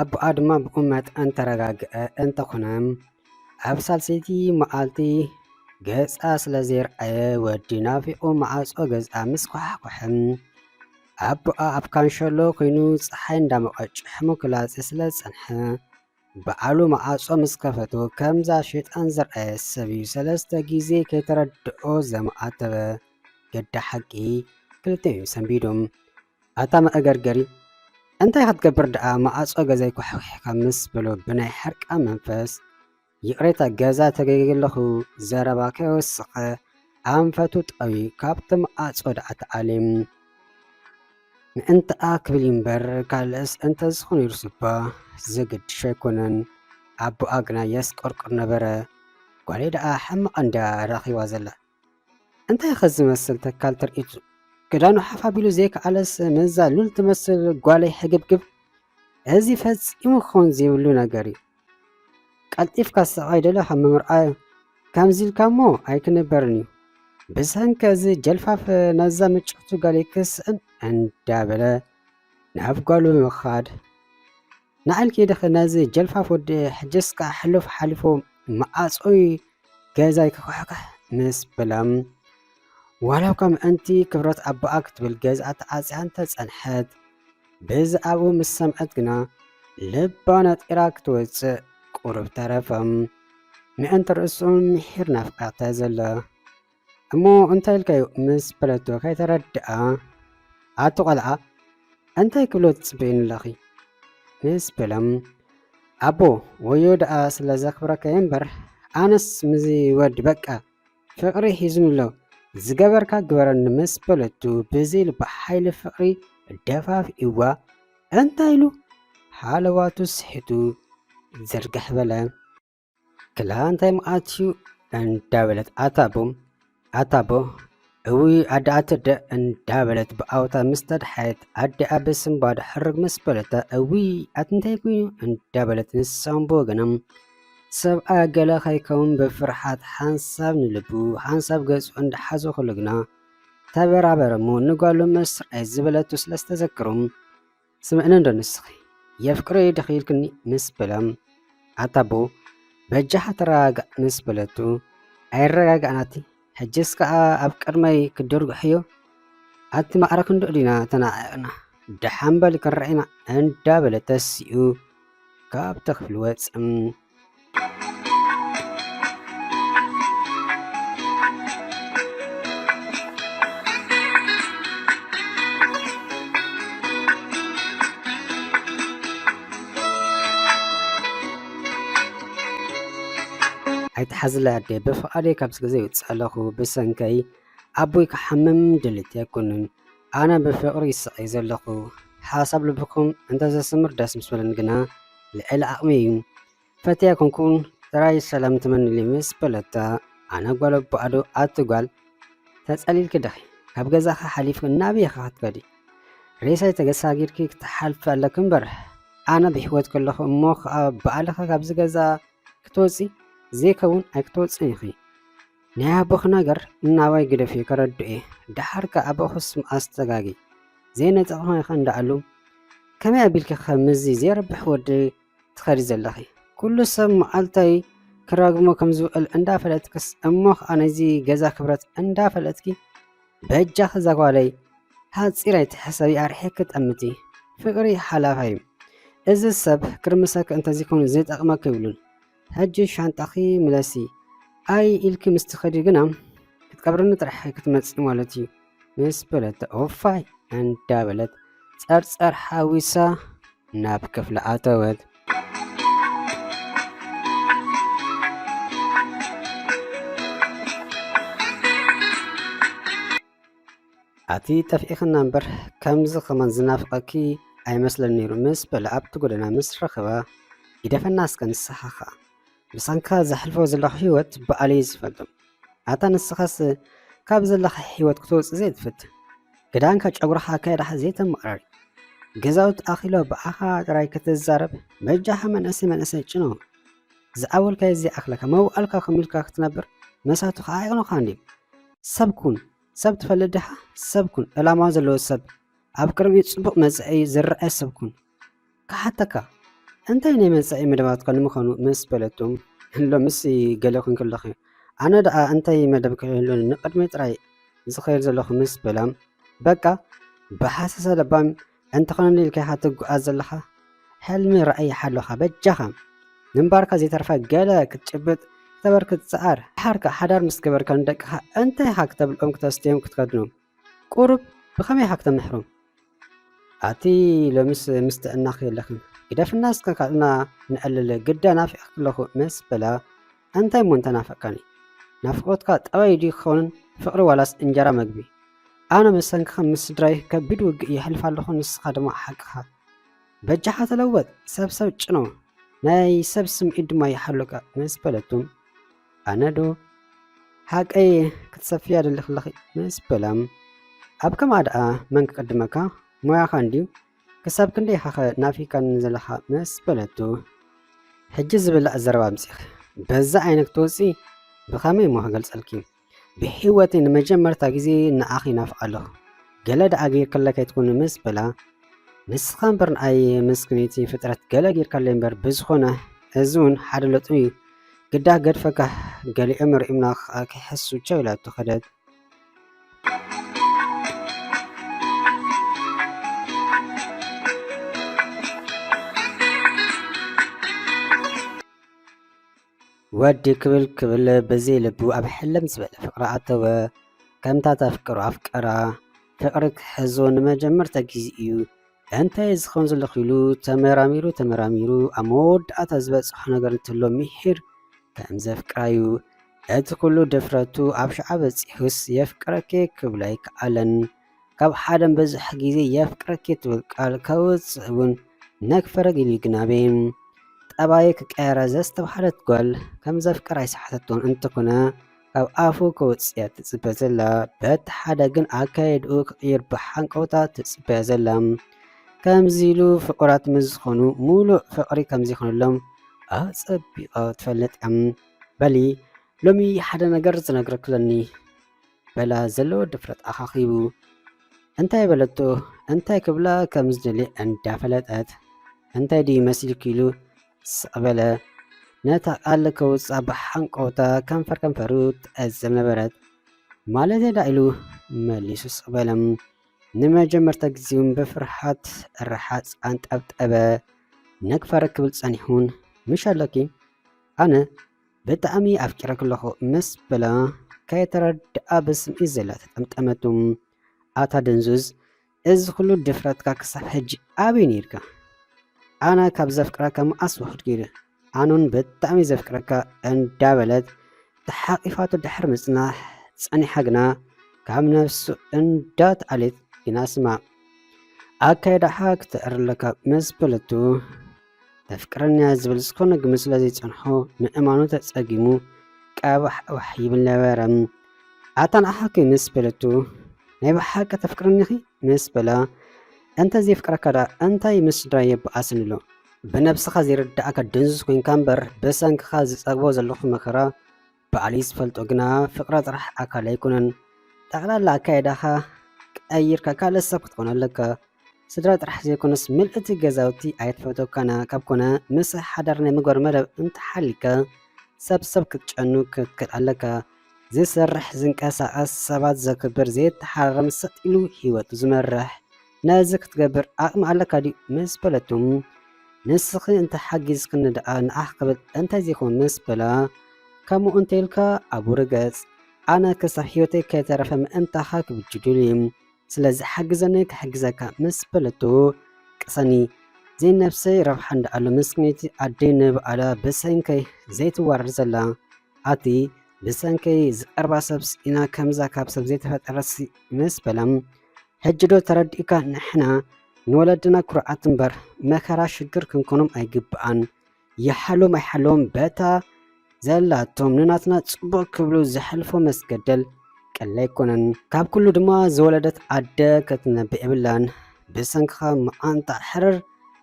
ኣቡኣ ድማ ብቑመት እንተረጋግአ እንተኾነ ኣብ ሳልሰይቲ መዓልቲ ገጻ ስለ ዘይርኣየ ወዲ ናፊቑ መዓጾ ገዝኣ ምስ ኳሕኮሐ ኣቡኣ ኣብ ካንሸሎ ኮይኑ ፀሓይ እንዳሞቐ ጭሕሙ ክላፀ ስለ ዝፀንሐ በዓሉ መዓጾ ምስ ከፈቶ ከምዛ ሸይጣን ዝረኣየ ሰብ እዩ ሰለስተ ግዜ ከይተረድኦ ዘማኣተበ ገዳ ሓቂ ክልተ እዮም ሰንቢዶም ኣታ መእገርገሪ እንታይ ክትገብር ደኣ መኣጾ ገዛይ ኳሕኲሕካ ምስ በሎ ብናይ ሕርቃ መንፈስ ይቕሬታ ገዛ ተገይገለኹ ዘረባ ከይወሰኸ ኣንፈቱ ጠውዩ ካብቲ መኣጾ ደኣ ተኣልዩ ምእንትኣ ክብል እምበር ካልእስ እንተዝኾን ይርሱባ ዘገድሾ ኣይኮነን ኣቦኣ ግና የስቆርቁር ነበረ ጓለይ ደኣ ሕማቕ እንድያ ረኺባ ዘላ እንታይ'ኸ ዝመስል ተካል ትርኢት! ክዳኑ ሓፍ ኣቢሉ ዘይከኣለስ ነዛ ሉል ትመስል ጓለይ ሕግብግብ! እዚ ፈጺሙ ክኸውን ዘይብሉ ነገር እዩ። ቀልጢፍካ ስቓይ ደለኻ ምምርኣይ ከምዚ ኢልካ እሞ ኣይክንበርን እዩ። ብሰንኪ እዚ ጀልፋፍ ነዛ ምጭውቲ ጓለይ ክስእን እንዳበለ ናብ ጓሉ ምኻድ። ንዓል ኬደኸ ናዚ ጀልፋፍ ወዲ ሕጀስ ከዓ ሕሎፍ ሓልፎ መኣጾይ ገዛይ ክኳሕካሕ ምስ በላም ዋላ እኳ ምእንቲ ክብረት ኣቦኣ ክትብል ገዝኣ ተዓጽያ እንተጸንሐት በዚ ኣብኡ ምስ ሰምዐት ግና ልባ ነጢራ ክትወጽእ ቁሩብ ተረፈም ምእንቲ ርእሱ ምሒር ናፍቃታ ዘላ እሞ እንታይ ኢልካዮ ምስ በለቶ ከይተረድኣ ኣቲ ቆልዓ እንታይ ክብሎ ትጽበይኒ ኣለኺ ምስ በሎም ኣቦ ወዮ ደኣ ስለ ዘኽብረካ እምበር ኣነስ ምዚ ወዲ በቃ ፍቕሪ ሒዙኒ ኣሎ ዝገበርካ ግበረኒ ምስ በለቱ ብዘይ ልባ ሓይሊ ፍቕሪ ደፋፍእዋ እንታይ ኢሉ ሓለዋቱ ስሒቱ ዝርግሕ በለ። ክላ እንታይ መዓልትዩ እንዳበለት ኣታቦ ኣታቦ እውይ ኣደኣተደ እንዳበለት ብኣውታ ምስ ተድሓየት ኣዲኣ ብስንባድ ሕርግ ምስ በለታ እውይ ኣትንታይ ኮይኑ እንዳበለት ንሳም ብወገኖም ሰብኣ ገለ ከይከውን ብፍርሓት ሓንሳብ ንልቡ ሓንሳብ ገጹ እንዳሓዞ ከሎ ግና ተበራበረ እሞ ንጓሉ ምስ ርኣይ ዝበለቱ ስለዝተዘክሮም ስምዕኒ እንዶ ንስኺ የፍቅረይ ዲኺ ኢልክኒ ምስ በሎም ኣታ ኣቦ በጃኻ ተረጋጋእ ምስ በለቱ ኣይረጋጋእናቲ ሕጅስ ከኣ ኣብ ቅድመይ ክድርግሕዮ ኣቲ ማዕረ ክንድኡ ዲና ተናዒቕና ደሓን በል ክንረኣይና እንዳበለ ተሲኡ ካብቲ ክፍሊ ወጸ። ኣይትሓዝለይ ኣደይ ብፍቓደይ ካብዚ ገዛ ይውፅእ ኣለኹ ብሰንከይ ኣቦይ ክሓምም ድልት ኣይኮንን ኣነ ብፍቕሪ ይስቐይ ዘለኹ ሓሳብ ልብኹም እንተዘስምር ደስ ምስ በለኒ ግና ልዕሊ ዓቕመይ እዩ ፈትያ ኮንኩን ጥራይ ሰላም ትመንሊ ምስ በለታ ኣነ ጓል ኣቦኣዶ ኣቲ ጓል ተጸሊልኪ ድኺ ካብ ገዛኺ ሓሊፍኪ ናበይ ኢኺ ክትከዲ ሬሳይ ተገሳጊርኪ ክትሓልፊ ኣለኪ እምበር ኣነ ብሕይወት ከለኹ እሞ ከዓ በኣልኺ ካብዚ ገዛ ክትወፂ ዘይከውን ኣይክትወፅን ኢኺ ናይ ኣቦኺ ነገር እናባይ ግደፍዮ ከረድኦየ ደሓር ከ ኣቦኽስ መኣስ ተጋጊ ዘይነጸግኹ ኢኺ እንዳኣሉ ከመይ ኣቢልኪ ከ ምስዚ ዘይረብሕ ወዲ ትኸዲ ዘለኺ ኩሉ ሰብ መዓልታይ ክራግሞ ከም ዝውዕል እንዳፈለጥክስ እሞ ከኣ ናይዚ ገዛ ክብረት እንዳፈለጥኪ በጃኺ ዛጓለይ ሃፂር ኣይትሕሰቢ ኣርሒኪ ጠምቲ ፍቅሪ ሓላፋይ እዩ እዚ ሰብ ክርምሰኪ እንተዝይኮኑ ዝጠቅመኪ ይብሉን ሕጂ ሻንጣኺ ምለሲ ኣይ ኢልኪ ምስ ትኸዲ ግና ክትቀብርኒ ጥራሕ ክትመጺ ማለት እዩ ምስ በለት ኦፋይ እንዳበለት ጸርጸር ሓዊሳ ናብ ክፍሊ ኣተወት። ኣቲ ጠፊእክና እምበር ከምዚ ከማን ዝናፍቀኪ ኣይመስለን ነይሩ ምስ በለ ኣብቲ ጎደና ምስ ረኸባ ይደፈና እስከ ንስኻ ከኣ ብሰንካ ዘሕልፎ ዘለኹ ህይወት በኣለይ ዝፈልጦ ኣታ ንስኻስ ካብ ዘለካ ህይወት ክትወፅእ ዘይትፈትን ክዳንካ ጨጉርካ ኣካየዳካ ዘይተመቕራሪ ገዛውት ኣኺሎ ብኣኻ ጥራይ ከተዛረብ በጃኻ መንእሰይ መንእሰይ ጭኖ ዝዓበልካዮ ዘይኣኽለካ መውኣልካ ከም ኢልካ ክትነብር መሳቱ ከኣ ኣይቕኑኻን እዩ። ሰብ ኩን፣ ሰብ ትፈልጥ ድኻ? ሰብ ኩን፣ ዕላማ ዘለዎ ሰብ፣ ኣብ ቅድሚኡ ጽቡቕ መጻኢ ዝረኣየ ሰብ ኩን። ክሓተካ፣ እንታይ ናይ መጻኢ መደባትካ ንምዃኑ ምስ በለቶ፣ ሎምስ ገለ ኩንኪ ኣለኺ፣ ኣነ ደኣ እንታይ መደብ ከይህሉኒ ንቕድሚት ጥራይ ዝኸይድ ዘለኹ ምስ በላ፣ በቃ ብሓሰሰ ለባም ኣንተ ኮነል ኢልካ ኢኻ ትጉዓዝ ዘለኻ ሕልሚ ራእይ ሓሎኻ በጃኻ ምንባርካ ዘይተርፋ ገለ ክትጭብጥ ክተበርክት ጸዓር ድሓርካ ሓዳር ምስ ገበርካ ንደቅኻ እንታይ ኢኻ ክተብልዖም ክተስትዮም ክትከድኖም ቁሩብ ብኸመይ ኢኻ ክተምሕሮም ኣቲ ሎምስ ምስ ጥዕናኺ የለኽን ግደፍና እስከ ካብና ንዕልል ግዳ ናፊቕኪ ኣለኹ መስ በላ ኣንታይ እሞ እንተናፈቅካኒ ናፍቆትካ ጠባይ ድዩ ክኸውንን ፍቅሪ ዋላስ እንጀራ መግቢ ኣነ ምሰንክኻ ምስ ስድራይ ከቢድ ውግእ የሕልፍ ኣለኹ ንስኻ ድማ ሓቅኻ በጃኻ ተለወጥ ሰብ ሰብ ጭኖ ናይ ሰብ ስምዒት ድማ ይሓሉካ ምስ በለቱም ኣነ ዶ ሓቀይ ክትሰፍያ ደሊኽለኺ ምስ በላም ኣብ ከምኣ ደኣ መን ክቅድመካ ሞያኻ እንድዩ ክሳብ ክንደይ ኢኻኸ ናፊቃኒ ዘለኻ መስ በለቶ። ሕጂ ዝብላዕ ዘረባ ኣምጺኺ በዛ ዓይነት ክትወጺ ብኸመይ እሞ ክገልጸልኪ ብሕይወተይ ንመጀመርታ ግዜ ንዓኺ ናፍቕ ኣለኹ ገለ ደኣ ጌርክለይ ከይትኩኒ ምስ በላ ንስኻ እምበር ንኣየ መስክነይቲ ፍጥረት ገለ ጌርካለይ እምበር ብዝኾነ እዚ እውን ሓደ ለጥሚ እዩ ግዳ ገድፈካ ገሊኦም ርእምና ክሓሱ ቻው ኢላቶ ከደት ወዲ ክብል ክብል ብዘይ ልቡ ኣብ ሕልም ዝበለ ፍቅሪ ኣተወ ከምታ ተፍቅሮ ኣፍቀራ ፍቅሪ ክሕዞ ንመጀመርታ ግዜ እዩ እንታይ እየ ዝኸውን ዘለኹ ኢሉ ተመራሚሩ ተመራሚሩ ኣብ መወዳእታ ዝበፅሖ ነገር እንትሎ ምሒር ከም ዘፍቅራዩ እቲ ኩሉ ድፍረቱ ኣብ ሽዓ በፂሑስ የፍቅረኪ ክብሎ ኣይከኣለን። ካብ ሓደ በዝሕ ግዜ የፍቅረኪ ትብል ቃል ከውፅእ እውን ነክፈረግ ኢሉ ይግናበ ጠባዩ ክቀየረ ዘስተብሃለት ጓል ከም ዘፍቅር ኣይሰሓተቶን እንተኾነ ካብ ኣፉ ከውጽያ ትጽበ ዘላ በቲ ሓደ ግን ኣካየድኡ ክቕይር ብሓንቀውታ ትጽበያ ዘላ ከምዚ ኢሉ ፍቑራት ምስ ዝኾኑ ሙሉእ ፍቕሪ ከምዘይኮነሎም ኣጸቢቓ ትፈልጥ እያ በሊ ሎሚ ሓደ ነገር ዝነግረኪ ኣለኒ በላ ዘለዎ ድፍረት ኣኻኺቡ እንታይ በለቶ እንታይ ክብላ ከም ዝደልየ እንዳፈለጠት እንታይ ድዩ መሲልኪ ኢሉ ስቕ በለ። ነታ ቃል ከውጽኣ ብሓንቀውታ ከንፈር ከንፈሩ ትዕዘብ ነበረት። ማለት ዳ ኢሉ መሊሱ ስቕ በለ። ንመጀመርታ ግዜውን ብፍርሓት ርሓጽ ኣንጠብጠበ። ነግፋረ ክብል ጸኒሑን ምሽ ኣሎኪ ኣነ ብጣዕሚ ኣፍቂረኪ ኣለኹ ምስ በላ ከየተረድኣ ብስምዒት ዘላ ተጠምጠመቱ። ኣታ ደንዙዝ እዚ ኩሉ ድፍረትካ ክሳብ ሕጂ ኣበይ ኔርካ ኣነ ካብ ዘፍቅረካ መኣስ ውሕድ ገይሩ ኣነውን ብጣዕሚ ዘፍቅረካ እንዳበለት ተሓቂፋቶ ድሕሪ ምጽናሕ ጸኒሓ ግና ካብ ነፍሱ እንዳትኣልየት ግና ስማ ኣካይዳኻ ክተዕርለካ ምስ በለቱ መፍቅረንያ ዝብል ዝኾነ ግምት ስለ ዘይጸንሖ ምእማኑ ተጸጊሙ ቀባሕባሕ ይብል ነበረ። ኣታ ንዓኺ ምስ በለቱ ናይ ብሓቂ ተፍቅርኒኺ ምስ በላ እንተ ዘይፍቅረካ ደኣ እንታይ ምስ ስድራ የበኣሰኒ ኣሎ ብነብስኻ ዘይርዳእካ ድንዙዝ ኮንካ እምበር ብሰንክኻ ዝጸግቦ ዘለኹ መከራ ባዕለይ ዝፈልጦ ግና ፍቅረ ጥራሕ ኣካል ኣይኮነን ጠቅላላ ኣካይዳኻ ቀይርካ ካልእ ሰብ ክትኮን ኣለካ ስድራ ጥራሕ ዘይኮነስ ምልእቲ ገዛውቲ ኣይትፈተካና ካብ ኮነ ምስ ሓዳር ናይ ምግባር መደብ እንተሓሊካ ሰብ ሰብ ክትጨኑ ክትክእል ኣለካ ዝሰርሕ ዝንቀሳቀስ ሰባት ዘክብር ዘይተሓራረም ሰጥ ኢሉ ሂወቱ ዝመርሕ ነዚ ክትገብር ዓቕሚ ኣለካ ድዩ ምስ በለቶ ንስኺ እንተሓጊዝክኒ ደኣ ንዓኽ ክብል እንተዘይኮን ምስ በላ ከምኡ እንተይልካ ኣብኡ ርገጽ ኣነ ክሳብ ህይወተይ ከይተረፈ ምእንታኻ ክብል ጅዱሊ ስለዚ ሓግዘኒ ክሕግዘካ ምስ በለቶ ቅሰኒ ዘይነፍሰይ ረብሓ እንዳኣሎ ምስኪነይቲ ኣደይ ንብኣላ ብሰንከይ ዘይትዋረድ ዘላ ኣቲ ብሰንከይ ዝቀርባ ሰብስ ኢና ከምዛ ካብ ሰብ ዘይተፈጠረሲ ምስ በላ ሕጂ ዶ ተረዲኡካ ንሕና ንወለድና ኩርዓት እምበር መከራ ሽግር ክንኮኖም ኣይግብኣን ይሓልዎም ኣይሓልዎም በታ ዘላቶም ንናትና ጽቡቅ ክብሉ ዘሕልፎ መስገደል ቀሊል ኣይኮነን ካብ ኩሉ ድማ ዝወለደት ኣደ ከትነብዕ የብላን ብሰንክኻ መዓንጣ ሕርር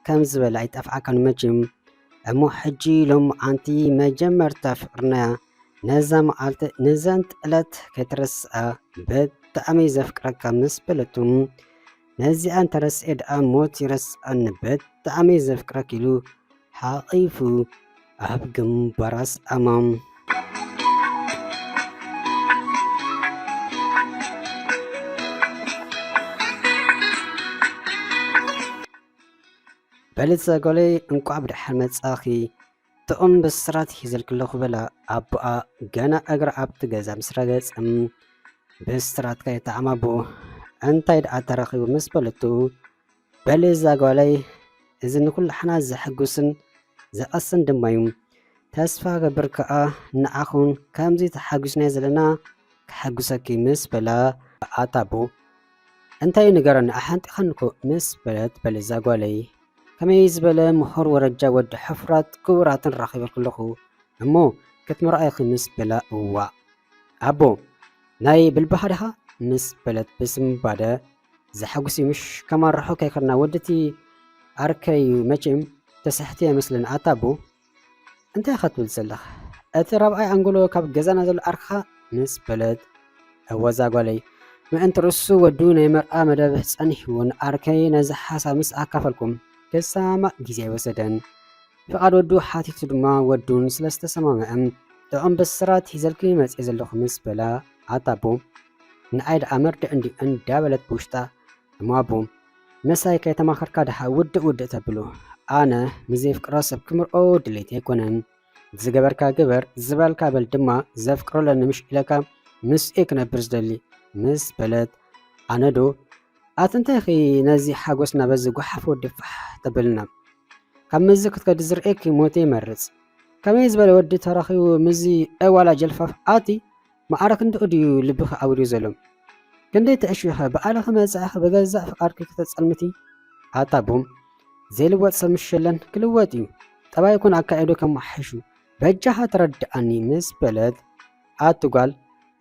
ከም ዝበለ ኣይጠፍኣካን መቼም እሞ ሕጂ ሎሚ ኣንቲ መጀመርታ ፍቅርና ነዛ መዓልቲ ንዘንት ዕለት ከይትረስኣ ብጣዕሚ ዘፍቅረካ ምስ በለቱ ነዚኣ እንተረስኤ ደኣ ሞት ይረስኣኒ ብጣዕሚ ዘፍቅረክ ኢሉ ሓቒፉ ኣብ ግንባራ ስኣማ በልፀ ጎለይ እንቋዕ ብደሓን መጻኺ ጥዑም ብስራት ሒዘልኪ ኣለኹ በላ ኣቦኣ ገና እግራ ኣብቲ ገዛ ምስ ረገጸ ብስራት ከይተዓማቦ እንታይ ደኣ ተረኺቡ ምስ በለቱ በሊ እዛ ጓለይ እዚ ንኩላሕና ዘሐጉስን ዘቐስን ድማ እዩ ተስፋ ገብር ከኣ ንዓኹም ከምዚ ተሓጒስናዮ ዘለና ክሐጉሰኪ ምስ በላ ኣታቦ እንታይ ንገረኒ ኣሓንጢኸንኩ ምስ በለት በልዛ ጓለይ ከመይ ዝበለ ምሁር ወረጃ ወዲ ሕፍራት ክቡራትን ራኺበልኩለኹ እሞ ክትምርኣይኺ ምስ በላ እዋእ ኣቦ ናይ ብልባኻ ድኻ ምስ በለት ብስምባደ ዘሐጉሲ ምሽ ከማርሖ ከይከድና ወድቲ ኣርከይ መቼም ተስሕቲ ኣይመስልን ኣታ ኣቦ እንታይ ኢኻ ትብል ዘለኻ? እቲ ራብዓይ ኣንጎሎ ካብ ገዛና ዘሎ ኣርክኻ ምስ በለት እወዛ ጓለይ ምእንቲ ርእሱ ወዱ ናይ መርኣ መደብ ጸኒሕዎ ንኣርከይ ነዚ ሓሳብ ምስ ኣካፈልኩም ክሰማማእ ግዜ ኣይወሰደን። ፍቓድ ወዱ ሓቲቱ ድማ ወዱን ስለ ዝተሰማምዐ ጥዑም ብስራት ሒዘልኪ መጽኤ ዘለኹ ምስ በላ ኣታ ኣቦ ንኣይ ደኣ መርድእ እንድዩ እንዳበለት ብውሽጣ እሞ ኣቡ ምሳይ ከይተማኸርካ ድሓ ውድእ ውድእ ተብሉ ኣነ ንዘይፍቅሮ ሰብ ክምርዖ ድሌት ኣይኮነን ዝገበርካ ግበር ዝበልካ በል ድማ ዘፍቅሮ ኣለኒ ምሽ ኢለካ ምስ እየ ክነብር ዝደሊ ምስ በለት ኣነዶ ኣቲ እንታይኺ ነዚ ሓጎስና በዚ ጓሓፍ ወዲ ፋሕ ተብልና ካብ መዚ ክትከዲ ዝርእየኪ ሞት ይመርፅ ከመይ ዝበለ ወዲ ተረኺቡ ምዚ ዕዋላ ጀልፋፍ ኣቲ ማዕረ ክንድኡ ድዩ ልብኺ ኣውልዩ ዘሎ? ክንደይ ትዕሽዊኸ ባዕልኺ መጻኢኺ ብገዛእ ፍቃድኪ ክተጸልምቲ? ኣታ ቡም! ዘይልወጥ ሰብ ምሽ የለን፣ ክልወጥ እዩ። ጠባይ ይኹን ኣካይድኡ ከመሓይሹ በጃኻ ተረድኣኒ ምስ በለት ኣቲ ጓል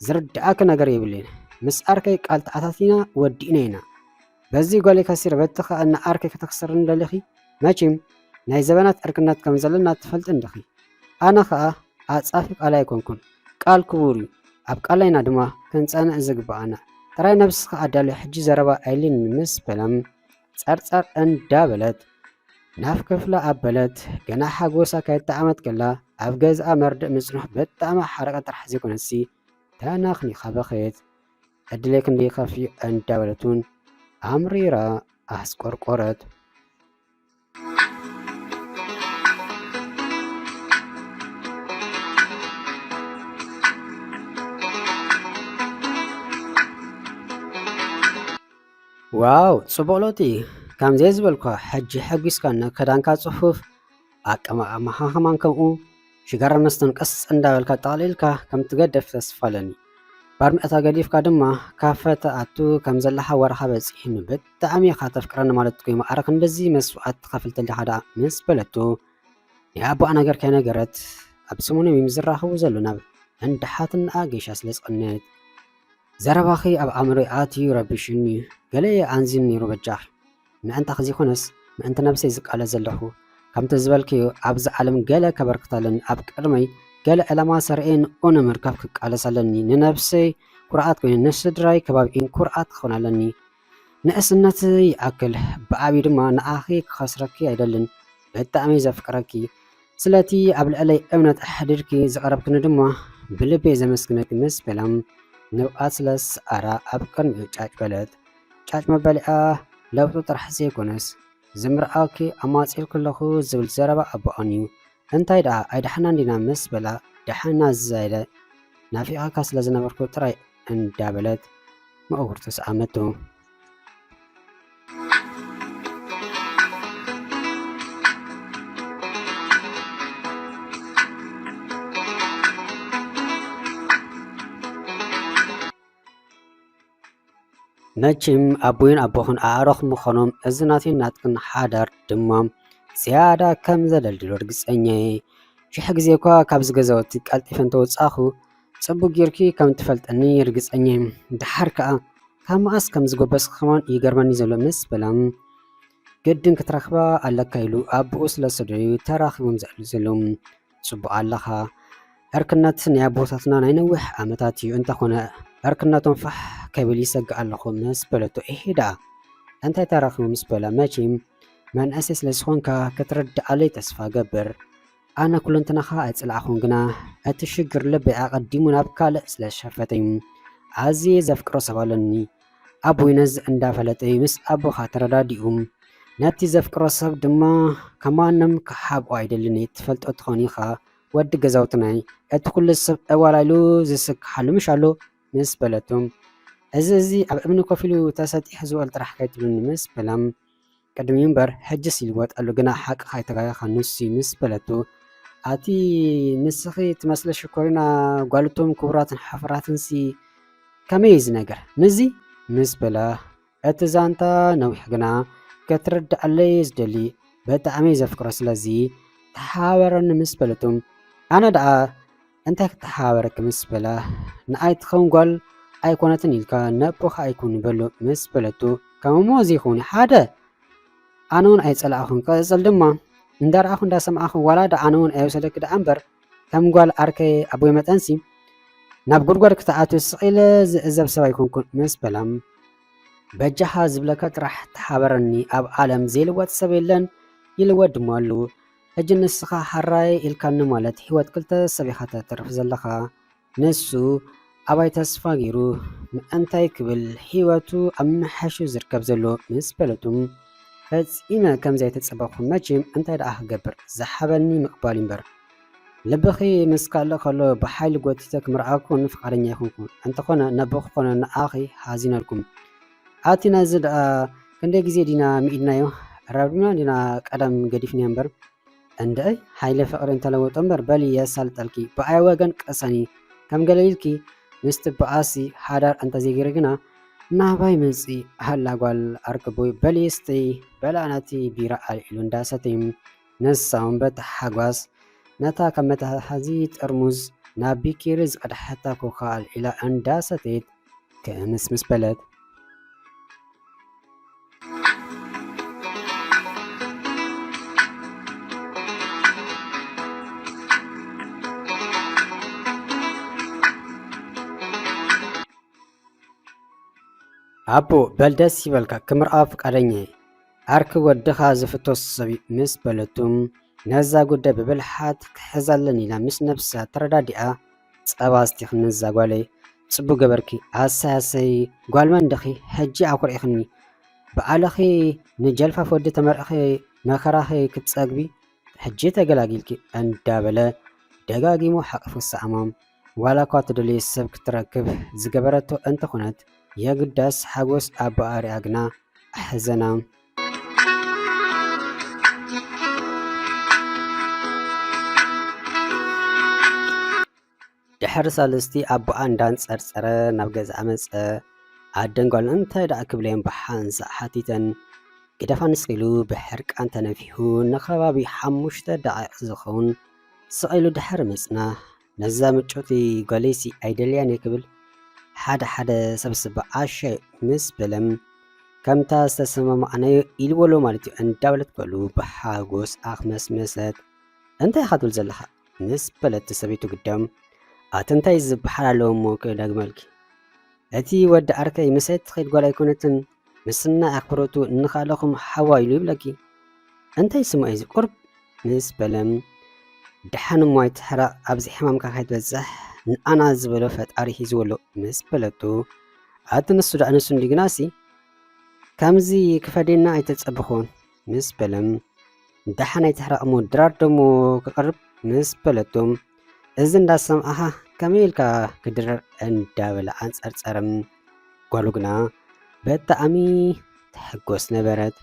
ዝርድኣኪ ነገር የብለይን ምስ ኣርከይ ቃል ተኣታቲና ወዲእና ኢና። በዚ ጎሊ ከሲረ በቲ ከኣ ንዓርኪ ከተክስርኒ ደሊኺ መቺም ናይ ዘበናት ዕርክነት ከም ዘለና ትፈልጢ እንዲኺ ኣነ ከኣ ዓጻፊ ቃል ኣይኮንኩን ቃል ክቡር እዩ ኣብ ቃላይና ድማ ክንጸንዕ ዝግብኣና ጥራይ ነብስኻ ኣዳልዮ ሕጂ ዘረባ ኣይልንን ምስ በለም ጸርጸር እንዳ በለት ናፍ ክፍላ ኣበለት ገና ሓጎሳ ከይጣዓመት ከላ ኣብ ገዝኣ መርድእ ምጽንሑ በጣዕሚ ሓረቀ ጥራሕ ዘይኮነሲ ተናኽኒኻ በኸየት ዕድለይ ክንደይ ይኸፍእ እንዳበለት እውን ኣምሪራ ኣስቆርቆረት። ዋው ጽቡቕ ለውጢ ከምዘይ ዝበልኳ ሕጂ ሓጒስካና ክዳንካ ጽፉፍ ኣቀማቕማኻ ከማን ከምኡ ሽጋራ መስተን ቀስ እንዳበልካ ጠቕሊልካ ከም ትገደፍ ተስፋ ኣለኒ ባርሚዕታ ገዲፍካ ድማ ካፈ ትኣቱ ከም ዘለኻ ወረኻ በፂሕኒ ብጣዕሚ ኢኻ ተፍቅረኒ ማለት ኮይኑ ኣረ ክንድዚ መስዋዕት ትኸፍል ተሊኻ ደኣ ምስ በለቶ ናይ ኣቦኣ ነገር ከይነገረት ኣብ ሰሙኖም እዮም ዝራኸቡ ዘሎ ናብ እንዳ ሓትንኣ ጌሻ ስለ ዝቐነየት ዘረባኺ ኣብ ኣእምሮይ ኣትዩ ረቢሽኒ ገለ ኣንዚን ነይሩ በጃኺ ምእንታኺ ዘይኮነስ ምእንቲ ነብሰይ ዝቃለስ ዘለኹ፣ ከምቲ ዝበልክዮ ኣብዛ ዓለም ገለ ከበርክት ኣለኒ፣ ኣብ ቅድመይ ገለ ዕላማ ሰርዔ ንኡ ንምርካብ ክቃለስ ኣለኒ፣ ንነብሰይ ኩርዓት ኮይኑ ንስድራይ ከባቢኤን ኩርዓት ክኾን ኣለኒ። ንእስነት ይኣክል ብዓብዩ ድማ ንዓኺ ክኸስረኪ ኣይደልን፣ ብጣዕሚ ዘፍቅረኪ፣ ስለቲ ኣብ ልዕለይ እምነት ኣሕዲርኪ ዝቐረብክኒ ድማ ብልበይ ዘመስግነኪ ምስ በላ ንብዓት ስለ ዝሰዓራ ኣብ ቅድሚኡ ጫጭ በለት። ጫጭ መበሊኣ ለውጢ ጥራሕ ዘይኮነስ ዝምርኣወኪ ኣማጺእልኪ ኣለኹ ዝብል ዘረባ ኣቦኣን እዩ። እንታይ ደኣ ኣይደሓናን ዲና ምስ በላ ደሓንና ዝዛይለ ናፊቐካ ስለ ዝነበርኩ ጥራይ እንዳበለት ምእውርቱ ሰኣመቶ። መችም ኣቦይን ኣቦኽን ኣዕሩኽ ምኾኖም እዚ ናተይን ናትክን ሓዳር ድማ ዝያዳ ከም ዘደልድሎ ርግጸኛ እየ። ሽሕ ግዜ እኳ ካብዚ ገዛውቲ ቀልጢፈ እንተወጻኹ ጽቡቅ ጌርኪ ከም ትፈልጠኒ ርግጸኛ እየ። ድሓር ከኣ ካብ መኣስ ከም ዝጎበስኪ ከማን ይገርመኒ ዘሎ ምስ በላ ግድን ክትረኽባ ኣለካ ኢሉ ኣቦኡ ስለ ዝሰደዶ'ዩ ተራኺቦም ዝዕልሉ ዘለዉ። ጽቡቕ ኣለኻ ዕርክነት ናይ ኣቦታትና ናይ ነዊሕ ዓመታት እዩ እንተኾነ ዕርክነቶም ፋሕ ከብል ይሰግእ ኣለኹ ምስ በለቶ እሄ ደኣ እንታይ ተራኽቡ ምስ በላ መቼም መንእሰይ ስለ ዝኾንካ ክትርድኣለይ ተስፋ ገብር ኣነ ኩለንትናኻ ኣይጽልኣኹን ግና እቲ ሽግር ልበይ ኣቐዲሙ ናብ ካልእ ስለ ዝሸፈተዩ ኣዝየ ዘፍቅሮ ሰብ ኣለኒ ኣቡይ ነዚ እንዳፈለጠ እዩ ምስ ኣቦኻ ተረዳዲኡ። ነቲ ዘፍቅሮ ሰብ ድማ ካብ ማንም ክሓብኦ ኣይደልን እዩ። ትፈልጦ ትኾን ኢኻ ወዲ ገዛውትናይ እቲ ኩሉ ሰብ ዕዋላ ኢሉ ዝስክሓሉ ምሽ ኣሎ ምስ በለቱ እዚ እዚ ኣብ እምኒ ኮፍ ኢሉ ተሰጢሑ ዝበሉ ጥራሕ ከይትብሉኒ ምስ በላ ቅድሚኡ እምበር ሕጅስ ይልወጥ ኣሉ ግና ሓቅኻ ኣይተጋገኻን ንሱ'ዩ ምስ በለቶ፣ ኣቲ ንስኺ ትመስሊ ሽኮሪና ጓል'ቶም ክቡራትን ሓፍራትንሲ ከመይ'ዩ እዚ ነገር ምስዚ? ምስ በላ፣ እቲ ዛንታ ነዊሕ ግና ክትርድኣለይ'የ ዝደሊ ብጣዕሚ'የ ዘፍቅሮ ስለዚ ተሓባበረኒ ምስ በለቶ፣ ኣነ ደኣ እንታይ ክተሓባበረኪ ምስ በላ፣ ንኣይ ትኸውን ጓል ኣይኮነትን ኢልካ ነቦኻ ኣይኩን በሎ ምስ በለቶ፣ ከም እሞ እዚ ይኹን ሓደ ኣነውን ኣይጸላእኹን ቀጽል ድማ እንዳረኣኹ እንዳሰማዕኹ ዋላ ዳ ኣነውን ኣይወሰደኪ ደኣ እምበር ከም ጓል ኣርከይ ኣቦይ መጠንሲ ናብ ጉድጓድ ክትኣትው ስቂለ ዝዕዘብ ሰብ ኣይኮንኩን ምስ በላም በጃኻ ዝብለካ ጥራሕ ተሓበረኒ ኣብ ዓለም ዘይልወጥ ሰብ የለን ይልወጥ ድማ ኣሉ ሕጂ ንስኻ ሐራይ ኢልካኒ ማለት ሂወት ክልተ ሰብ ኢኻ ተትርፍ ዘለኻ ንሱ ኣባይ ተስፋ ጌሩ ምእንታይ ክብል ሂወቱ ኣብ ምምሕያሹ ዝርከብ ዘሎ ምስ ፈለጡ ፈጺመ ከምዘይተጸበኹ መቼም እንታይ ደኣ ክገብር ዝሓበኒ ምቅባል እዩ እምበር ልብኺ ምስ ካልእ ከሎ ብሓይሊ ጎቲተ ክምርዓኩን ፍቃደኛ ኣይኮንኩን እንተኾነ ነቦ ክኾኖ ንዓኺ ሓዚነልኩም ኣቲ ናይዚ ደኣ ክንደይ ግዜ ዲና ምኢድናዮ ኣራብዲብና ዲና ቀደም ገዲፍንዮ እምበር እንደይ ሃይለ ፍቅሪ እንተለወጦ እምበር በሊ የሳልጠልኪ ብኣይ ወገን ቅሰኒ ከም ገለ ኢልኪ ምስ ትበኣሲ ሓዳር እንተዘይገይሪ ግና ናባይ መጺ ሃላ ጓል ኣርክቦይ በሊ ስተይ በላ ነቲ ቢራ ኣልዒሉ እንዳሰተዩ ንሳ'ውን'በታ ሓጓስ ነታ ካብ መትሓዚ ጠርሙዝ ናብ ቢኬሪ ዝቐድሓታ ኮካ ኣልዒላ እንዳሰተየት ክምስምስ በለት። ኣቦ በል ደስ ይበልካ ክምርኣዮ ፍቃደኛ'የ። ዓርኪ ወድኻ ዝፍቶ ሰብ ምስ በለቱ፣ ነዛ ጉዳይ ብብልሓት ክሕዛ ኣለኒ ኢላ ምስ ነብሳ ተረዳዲኣ ጸባ ኣስቲኺ ነዛ ጓለይ ጽቡቅ ገበርኪ ኣሰይ ኣሰይ ጓል መን ድኺ ሕጂ ኣኹሪዕኽኒ ብዓልኺ ንጀልፋፍ ወዲ ተመርዕኺ መከራኺ ክትጸግቢ ሕጂ ተገላጊልኪ እንዳበለ ደጋጊሙ ሓቂፉ ሰኣማ። ዋላ እኳ ትደልዮ ሰብ ክትረክብ ዝገበረቶ እንተኾነት የግዳስ ሓጎስ ኣቦኣ ሪኣ ግና ኣሕዘና። ድሕሪ ሳልስቲ ኣቦኣ እንዳንጸርጸረ ናብ ገዝኣ መጸ። ኣደን ጓል እንታይ ደኣ ክብለዮም ብሓንሳእ ሓቲተን። ግደፋ ንስኺ ኢሉ ብሕርቃን ተነፊሑ ንከባቢ ሓሙሽተ ደቓይቕ ዝኸውን ስቕ ኢሉ ድሓር ምጽናሕ፣ ነዛ ምጭውቲ ጓለይሲ ኣይደልያን'የ ክብል ሓደ ሓደ ሰብስብ ኣሻይ ምስ በለም ከምታ ዝተሰማማዕናዮ ኢልዎ'ሎ ማለት'ዩ እንዳበለት በሉ ብሓጎስ ኣኽመስመሰት። እንታይ ኢኻ ትብል ዘለኻ? ምስ በለት'ቲ ሰበይቱ ግዳም ኣቲ እንታይ ዝበሓል ኣለዎ'ሞ ክደግመልኪ እቲ ወዲ ዓርከይ ምስ'ቲ ትኸይድ ጓል ኣይኮነትን ምስናይ ኣኽብሮቱ እንኻለኹም ሓዋይ ኢሉ ይብለኪ እንታይ ስሙ እዩ ቁርብ ምስ በለም ደሓን እሞ ኣይትሕረቕ ኣብዚ ሕማምካ ከይትበፅሕ ንኣና ዝበሎ ፈጣሪ ሂዝዎ ኣሎ ምስ በለቱ ኣቲ ንሱ ዳዕ ንሱ እንዲ ግናሲ ከምዚ ክፈዴና ኣይተጸብኹን ምስ በለም ደሓን ኣይትሕረቕ እሞ ድራር ደሞ ክቐርብ ምስ በለቶም እዚ እንዳሰምዓኻ ከመይ ኢልካ ክድርዕ እንዳበለ ኣንጸርጸረ። ጓሉ ግና ብጣዕሚ ትሕጎስ ነበረት።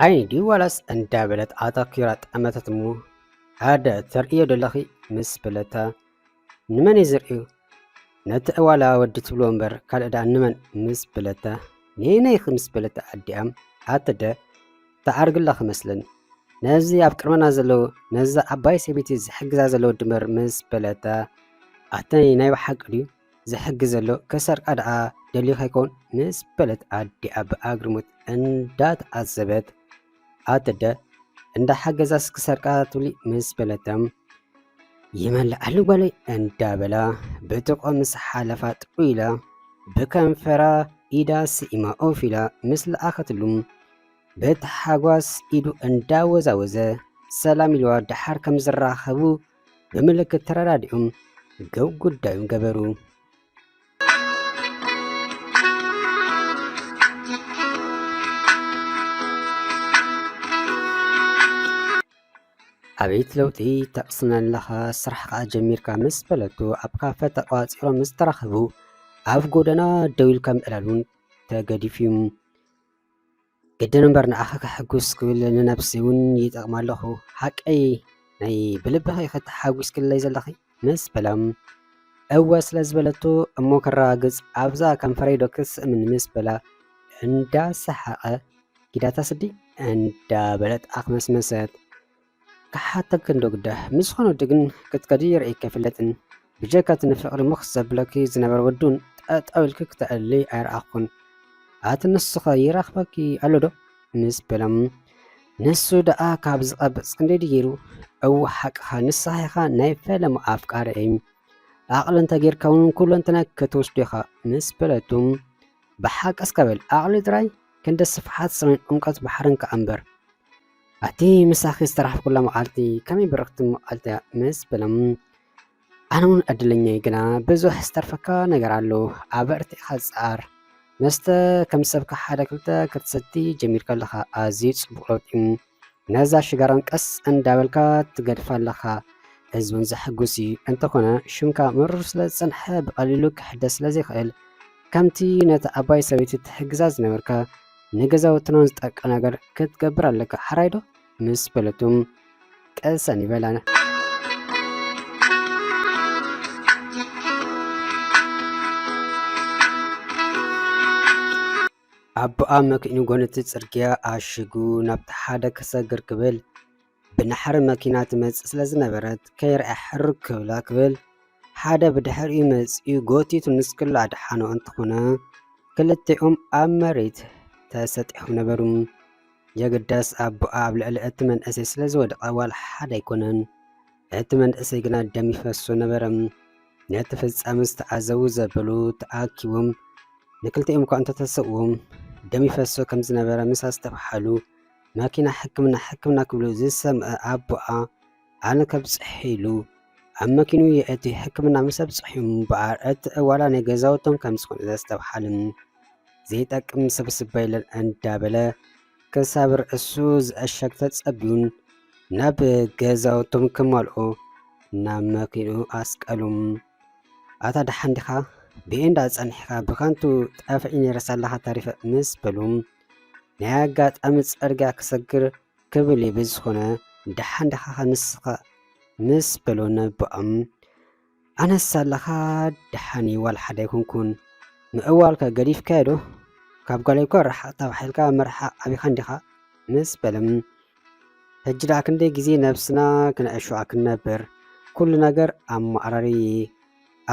ዓይኒ ድዩ ዋላስ እንዳበለት ኣተኲራ ጠመተት እሞ ሓደ ተርእዮ ዘለኺ ምስ በለታ ንመን እየ ዝርእዩ ነቲ ዕዋላ ወዲ ትብሎ እምበር ካልእ ደኣ ንመን ምስ በለታ ነየነይኺ ምስ በለታ ኣዲኣም ኣተደ ተዓርግላ ክመስለን ነዚ ኣብ ቅድመና ዘለዉ ነዛ ዓባይ ሰበይቲ ዝሕግዛ ዘለዉ ድምር ምስ በለታ ኣተይ ናይ ብሓቂ ድዩ ዝሕግዝ ዘሎ ከሰርቃ ደኣ ደልዩ ከይከውን ምስ በለት ኣዲኣ ብኣግርሙት እንዳተዓዘበት ኣደ እንዳ ሓገዛስ ክሰርቃ ትብሊ ምስ በለተም ይመልኣሉ ጓለይ እንዳበላ ብጥቆ ምስ ሓለፋ ጥዑ ኢላ ብከንፈራ ኢዳ ስኢማ ኦፍ ኢላ ምስ ለኣኸትሉ ብታሓጓስ ኢዱ እንዳወዛወዘ ሰላም ኢልዋ ደሓር ከም ዝራኸቡ ብምልክት ተረዳዲኦም ገብ ጉዳዩም ገበሩ። ኣቤት ለውጢ ተቕስን ኣለኻ ስራሕ ከዓ ጀሚርካ ምስ በለቱ ኣብ ካፈ ተቋፂሮም ምስ ተራኸቡ ኣብ ጎደና ደው ኢልካ ምዕላሉን ተገዲፉ እዩ። ግድን እምበር ንኣኻ ከሐጉስ ክብል ንነብሲ እውን ይጠቕማ ኣለኹ ሓቀይ ናይ ብልብኺ ከተሓጒስክለይ ዘለኺ ምስ በሎም እወ ስለ ዝበለቶ እሞ ከረጋግጽ ኣብዛ ከንፈረይ ዶ ክትስእምን ምስ በላ እንዳሰሓቐ ጊዳታ ስዲ እንዳበለት ኣኽመስመሰት። ክሓተኪ እንዶ ግደ ምስ ዝኾነ ወዲ ግን ክትከዲ ርእይኪ ኣይፍለጥን ብጀካ እቲ ንፍቅሪ ምኽስ ዘብለኪ ዝነበረ ወዲ ውን ጠጠው ኢልኪ ክተዕልሊ ኣይረኣኹን ኣቲ ንሱኸ ይረኽበኪ ኣሎ ዶ ምስ በሎም ንሱ ደኣ ካብ ዝቐብጽ ክንደይ ድዩ ገይሩ እው ሓቅኻ ንስኻ ኢኻ ናይ ፈለማ ኣፍቃሪ እይ ኣቕሊ እንተጌርካ ውን ኩለንትና ክትወስዶ ኢኻ ምስ በለቱ ብሓቂ እስከ በል ኣቕሊ ጥራይ ክንዲ ስፍሓት ሰማይን ዑምቀት ባሕርን ከኣ እምበር ኣቲ ምሳኺ ዝተራሕኩላ መዓልቲ ከመይ ብርኽቲ መዓልቲ ምስ በሎም ኣነ እውን ዕድለኛ እየ ግና ብዙሕ ዝተርፈካ ነገር ኣሎ ኣበርቲዕካ ዝፀኣር መስተ ከም ሰብካ ሓደ ክልተ ክትሰቲ ጀሚር ከለኻ ኣዝዩ ጽቡቕ ለውጢ ነዛ ሽጋራን ቀስ እንዳበልካ ትገድፋ ኣለኻ ህዝብን ዘሐጉስ እዩ እንተኾነ ሽምካ ምሩር ስለ ዝጸንሐ ብቐሊሉ ክሕደስ ስለ ዘይክእል ከምቲ ነቲ ኣባይ ሰበይቲ ትሕግዛ ዝነበርካ ንገዛውትና ዝጠቅዕ ነገር ክትገብር ኣለካ ሓራይ ዶ ምስ በለቱ ቀሰን ይበላ ኣቦኣ መኪኑ ጎነቲ ጽርግያ ኣሽጉ ናብቲ ሓደ ክሰግር ክብል ብናሕሪ መኪና ትመጽእ ስለ ዝነበረት ከይርኣ ሕርግ ክብላ ክብል ሓደ ብድሕሪኡ መጺኡ ጎቲቱ ንስክሉ ኣድሓኖ እንተኾነ ክልቲኦም ኣብ መሬት ተሰጢሖም ነበሩ። የግዳስ ኣቦኣ ኣብ ልዕሊ እቲ መንእሰይ ስለ ዝወደቐ ዋላ ሓደ ኣይኮነን። እቲ መንእሰይ ግና ደም ይፈሶ ነበረ። ነቲ ፍጻመ ዝተዓዘቡ ዘበሉ ተኣኪቦም ንክልቲኦም እኳ እንተተሰእዎም ደም ይፈሶ ከም ዝነበረ ምስ ኣስተብሓሉ ማኪና ሕክምና ሕክምና ክብሉ ዝሰምዐ ኣቦኣ ኣነ ከብፅሕ ኢሉ ኣብ መኪኑ የእቲ ሕክምና ምስ ኣብፅሑ እምበኣር እቲ ዕዋላ ናይ ገዛውቶም ከም ዝኾነ ዘስተብሓልን ዘይጠቅም ስብስብ በይለን እንዳበለ ክሳብ ርእሱ ዝዕሸግ ተፀቢዩን ናብ ገዛውቶም ክመልኦ ናብ መኪኑ ኣስቀሉም ኣታ ደሓን ዲኻ ብኤንዳ ፀኒሕካ ብከንቱ ጠፍዒ ነይረስ ኣለኻ ተሪፈ ምስ በሉም ናይ ኣጋጣሚ ጸርግያ ክሰግር ክብል እዩ ብዝኾነ ደሓን ደኻ ንስኻ ምስ በሎ ነቦኦም ኣነስ ኣለኻ ደሓን እዩ ዋላ ሓደ ኣይኮንኩን ምዕዋልካ ገዲፍካዮ ዶ ካብ ጓለይ እኳ ርሓቕ ተባሒልካ ምርሓቕ ኣቢኻ እንዲኻ ምስ በሎም ሕጂ ደኣ ክንደይ ግዜ ነብስና ክነዕሸዋ ክንነብር ኩሉ ነገር ኣማዕራሪ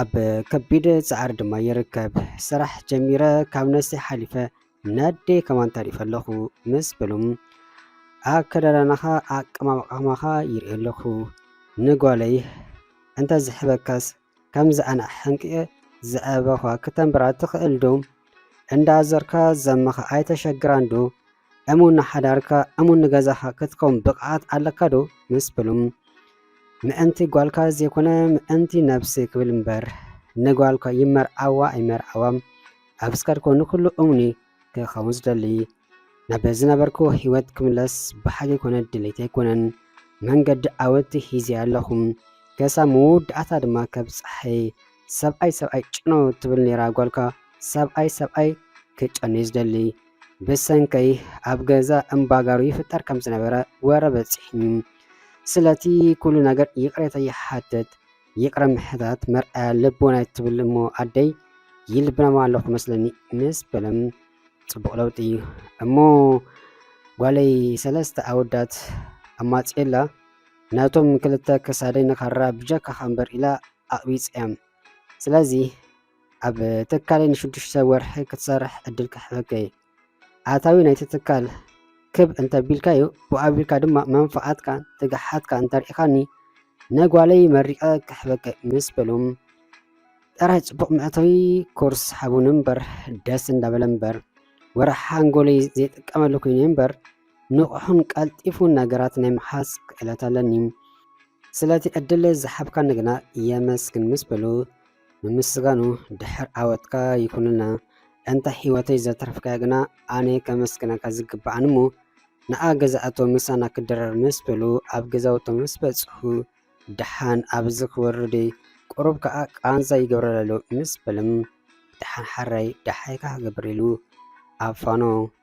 ኣብ ከቢድ ጻዕሪ ድማ ይርከብ ስራሕ ጀሚረ ካብ ነብሰይ ሓሊፈ ነዴ ከማን ታሪፍ ኣለኹ ምስ በሉም ኣከዳዳናኻ ኣቀማምቃማኻ ይርኢ ኣለኹ ንጓለይ እንተ ዝሕበካስ ከምዚ ኣነ ሕንቅየ ዝዕበኻ ክተንብራ ትኽእል ዶ እንዳዘርካ ዘመኻ ኣይተሸግራን ዶ እሙን ንሓዳርካ እሙን ንገዛኻ ክትከውን ብቕዓት ኣለካ ዶ ምስ በሉም ምእንቲ ጓልካ ዘይኮነ ምእንቲ ነብሲ ክብል እምበር ንጓልካ ይመርዓዋ ኣይመርዓዋ ኣብ እስካድ ኮኑ ኩሉ እሙኒ ክኸውን ዝደሊ ናብ ዝነበርኩ ህይወት ክምለስ ብሓቂ ኮነ ድሌት ኣይኮነን መንገዲ ዓወት ሂዜ ኣለኹ ከሳብ መወዳእታ ድማ ከብ ፀሐይ ሰብኣይ ሰብኣይ ጭኖ ትብል ነይራ ጓልካ ሰብኣይ ሰብኣይ ክጨኑ ዝደሊ ብሰንከይ ኣብ ገዛ እምባጋሩ ይፍጠር ከም ዝነበረ ወረ በፂሕኒ ስለቲ ኩሉ ነገር ይቕሬታ ይሓትት ይቅረ ምሕታት መርኣያ ልቦና ትብል እሞ ኣደይ ይልብናማ ኣለኹ መስለኒ ምስ በለም ፅቡቕ ለውጢ እዩ እሞ ጓለይ ሰለስተ ኣወዳት ኣማፅኤላ ናቶም ክልተ ክሳደይ ንካራ ብጀካ ከንበር ኢላ ኣቕቢፀዮም ስለዚ ኣብ ትካለይ ንሽዱሽተ ወርሒ ክትሰርሕ ዕድል ክሕበከ ኣታዊ ናይቲ ትካል ክብ እንተቢልካዮ ብኡ ኣቢልካ ድማ መንፍዓትካ ትግሓትካ እንተርኢኻኒ ነጓለይ መሪቐ ክሕበከ ምስ በሎም ጥራይ ጽቡቕ መእተዊ ኮርስ ሓቡን እምበር ደስ እንዳበለ እምበር ወርሒ ሓንጎለይ ዘይጥቀመሉ ኮይኑ እምበር ንቑሑን ቀልጢፉን ነገራት ናይ ምሓዝ ክእለት ኣለኒ ስለቲ ዕድል ዝሓብካኒ ግና የመስግን ምስ በሉ ምምስጋኑ ድሕር ዓወትካ ይኩንልና ኣንታ ሒወተይ ዘትረፍካያ ግና ኣነ ከመስግነካ ዝግብኣኒ እሞ ንኣ ገዛኣቶም ምሳና ክድረር ምስ በሉ ኣብ ገዛውቶም ምስ በጽሑ ድሓን ኣብዚ ክወርደይ ቁሩብ ከኣ ቃንዛ ይገብረለሎ ምስ በሎም ድሓን ሓራይ ድሓይካ ክገብር ኢሉ ኣብ ፋኖ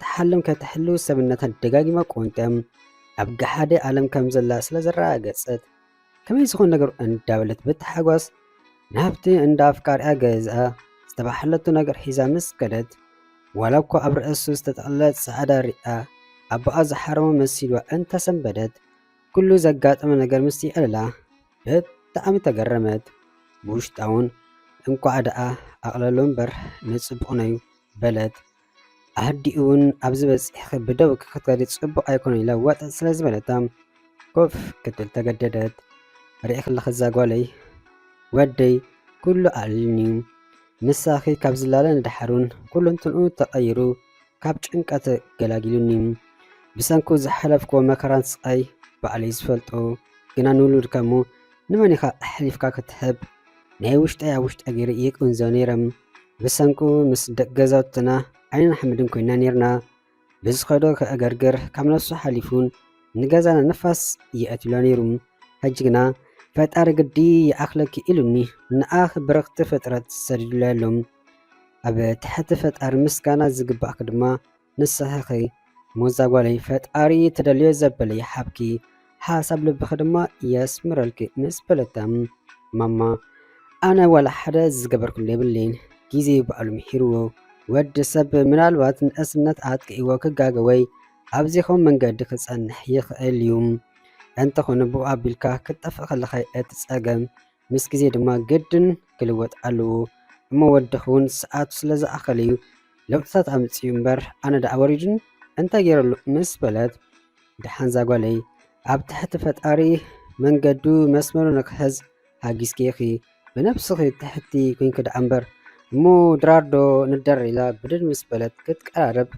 ትሓልም ከተሕልው ሰብነታ ደጋጊማ ቆንጢያም ኣብ ገሓደ ዓለም ከም ዘላ ስለ ዘረጋገጸት ከመይ ዝኾን ነገሩ እንዳበለት ብታሓጓስ ናብቲ እንዳ ኣፍቃሪኣ ገዝኣ ዝተባሓለቱ ነገር ሒዛ ምስ ከደት ዋላ እኳ ኣብ ርእሱ ዝተጠቕለለ ጻዕዳ ሪኣ ኣቦኣ ዝሓረሞ መሲልዋ እንተሰንበደት ኩሉ ዘጋጠመ ነገር ምስ ይዕልላ ብጣዕሚ ተገረመት። ብውሽጣውን እንኳዕ ደኣ ኣቕለሎ እምበር ንጽቡቕ ነዩ በለት። ኣዲኡውን ኣብዚ በፂሕኺ ብደው ክትከዲ ፅቡቕ ኣይኮነን ኢላ ዋጥ ስለ ዝበለታ ኮፍ ክትብል ተገደደት። ርኢኺ ኣለኺ እዛ ጓለይ ወደይ ኩሉ ኣዕሊሉኒ እዩ ምሳኺ ካብ ዝላለ ንደሓሩን ኩሉንትንኡ ተቐይሩ ካብ ጭንቀት ገላጊሉኒ ብሰንኩ ዝሓለፍክዎ መከራን ስቓይ ባዕለይ ዝፈልጦ ግና ንውሉድካ እሞ ንመን ኢኻ ኣሕሊፍካ ክትህብ? ናይ ውሽጠይ ኣብ ውሽጠይ ገይረ ይቅንዞ ነይረ። ብሰንኩ ምስ ደቂ ገዛውትና ዓይንን ሓመድን ኮይና ነይርና። ብዝኸዶ ከእገርግር ካብ ነፍሱ ሓሊፉን ንገዛና ንፋስ የእትሎ ነይሩ። ሕጂ ግና ፈጣሪ ግዲ ይኣኽለኪ ኢሉኒ ንኣኽ ብርኽቲ ፍጥረት ሰዲዱለይ ኣሎ። ኣብ ትሕቲ ፈጣሪ ምስጋና ዝግባእኪ ድማ ንስኺ ሞዛ ጓለይ ፈጣሪ ትደልዮ ዘበለ ይሓብኪ ሓሳብ ልብኺ ድማ የስምረልኪ ምስ በለታ ማማ ኣነ ዋላ ሓደ ዝገበርኩሉ የብለይን ግዜ በዓሉ ምሒርዎ ወዲ ሰብ ምናልባት ንእስነት ኣጥቂእዎ ክጋገ ወይ ኣብዚኹም መንገዲ ክጸንሕ ይኽእል እዩ እንተኾነ ብኡ ኣቢልካ ክትጠፍእ ከለኻ እቲ ጸገም ምስ ግዜ ድማ ግድን ክልወጥ ኣለዎ እሞ ወድኺ እውን ሰዓቱ ስለ ዝኣኸለ እዩ ለውጥታት ኣምፅኡ እምበር ኣነ ደኣ ወሪዱኒ እንታይ ገይረሉ ምስ በለት ደሓን እዛ ጓለይ ኣብ ትሕቲ ፈጣሪ መንገዱ መስመሩ ንክሕዝ ሃጊዝኪ ኢኺ ብነብስኺ ትሕቲ ኮንኪ ደኣ እምበር እሞ ድራርዶ ንደር ኢላ ብድድ ምስ በለት ክትቀራረብ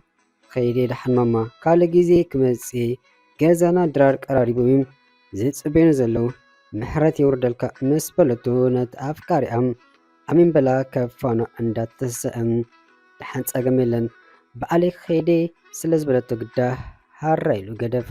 ከይደ ደሓን ማማ ካልእ ግዜ ክመጽእ እየ ገዛና ድራር ቀራሪቦም እዮም ዝጽበዩና ዘለዉ ምሕረት የውርደልካ ምስ በለቶ ነቲ ኣፍቃሪኣ ኣሜን በላ ካብ ፋኖ እንዳተሰእም ደሓን ጸገም የለን ብዓለይ ከይደ ስለ ዝበለቶ ግዳ ሃራ ኢሉ ገደፋ።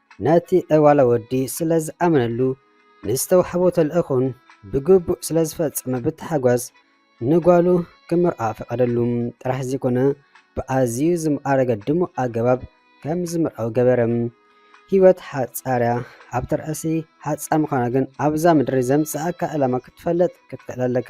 ነቲ ዕዋላ ወዲ ስለ ዝኣመነሉ ንዝተዋሕቦ ተልእኾን ብግቡእ ስለ ዝፈጸመ ብታሕጓስ ንጓሉ ክምርዓ ፈቐደሉ ጥራሕ ዘይኮነ ብኣዝዩ ዝማዕረገ ድሙቕ ኣገባብ ከም ዝምርዓው ገበረ። ህይወት ሓጻርያ ኣብ ተርእሲ ሓጻር ምዃና ግን ኣብዛ ምድሪ ዘምጽኣካ ዕላማ ክትፈልጥ ክትክእል ኣለካ።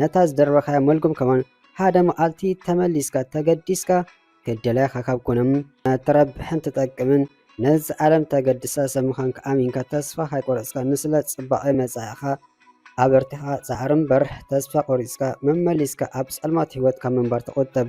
ነታ ዝደርበኻያ መልጉም ከማን ሓደ መዓልቲ ተመሊስካ ተገዲስካ ክደላይኻ ካብ ኮነም ተረብሕን ትጠቅምን ነዚ ዓለም ተገድሳ ሰብ ምዃንካ ኣሚንካ ተስፋ ካይቆረፅካ ንስለ ፅባቐ መፃኢኻ ኣበርቲኻ ፃዕሪ እምበር ተስፋ ቆሪፅካ መመሊስካ ኣብ ፀልማት ህይወት ካብ ምንባር ተቖጠብ።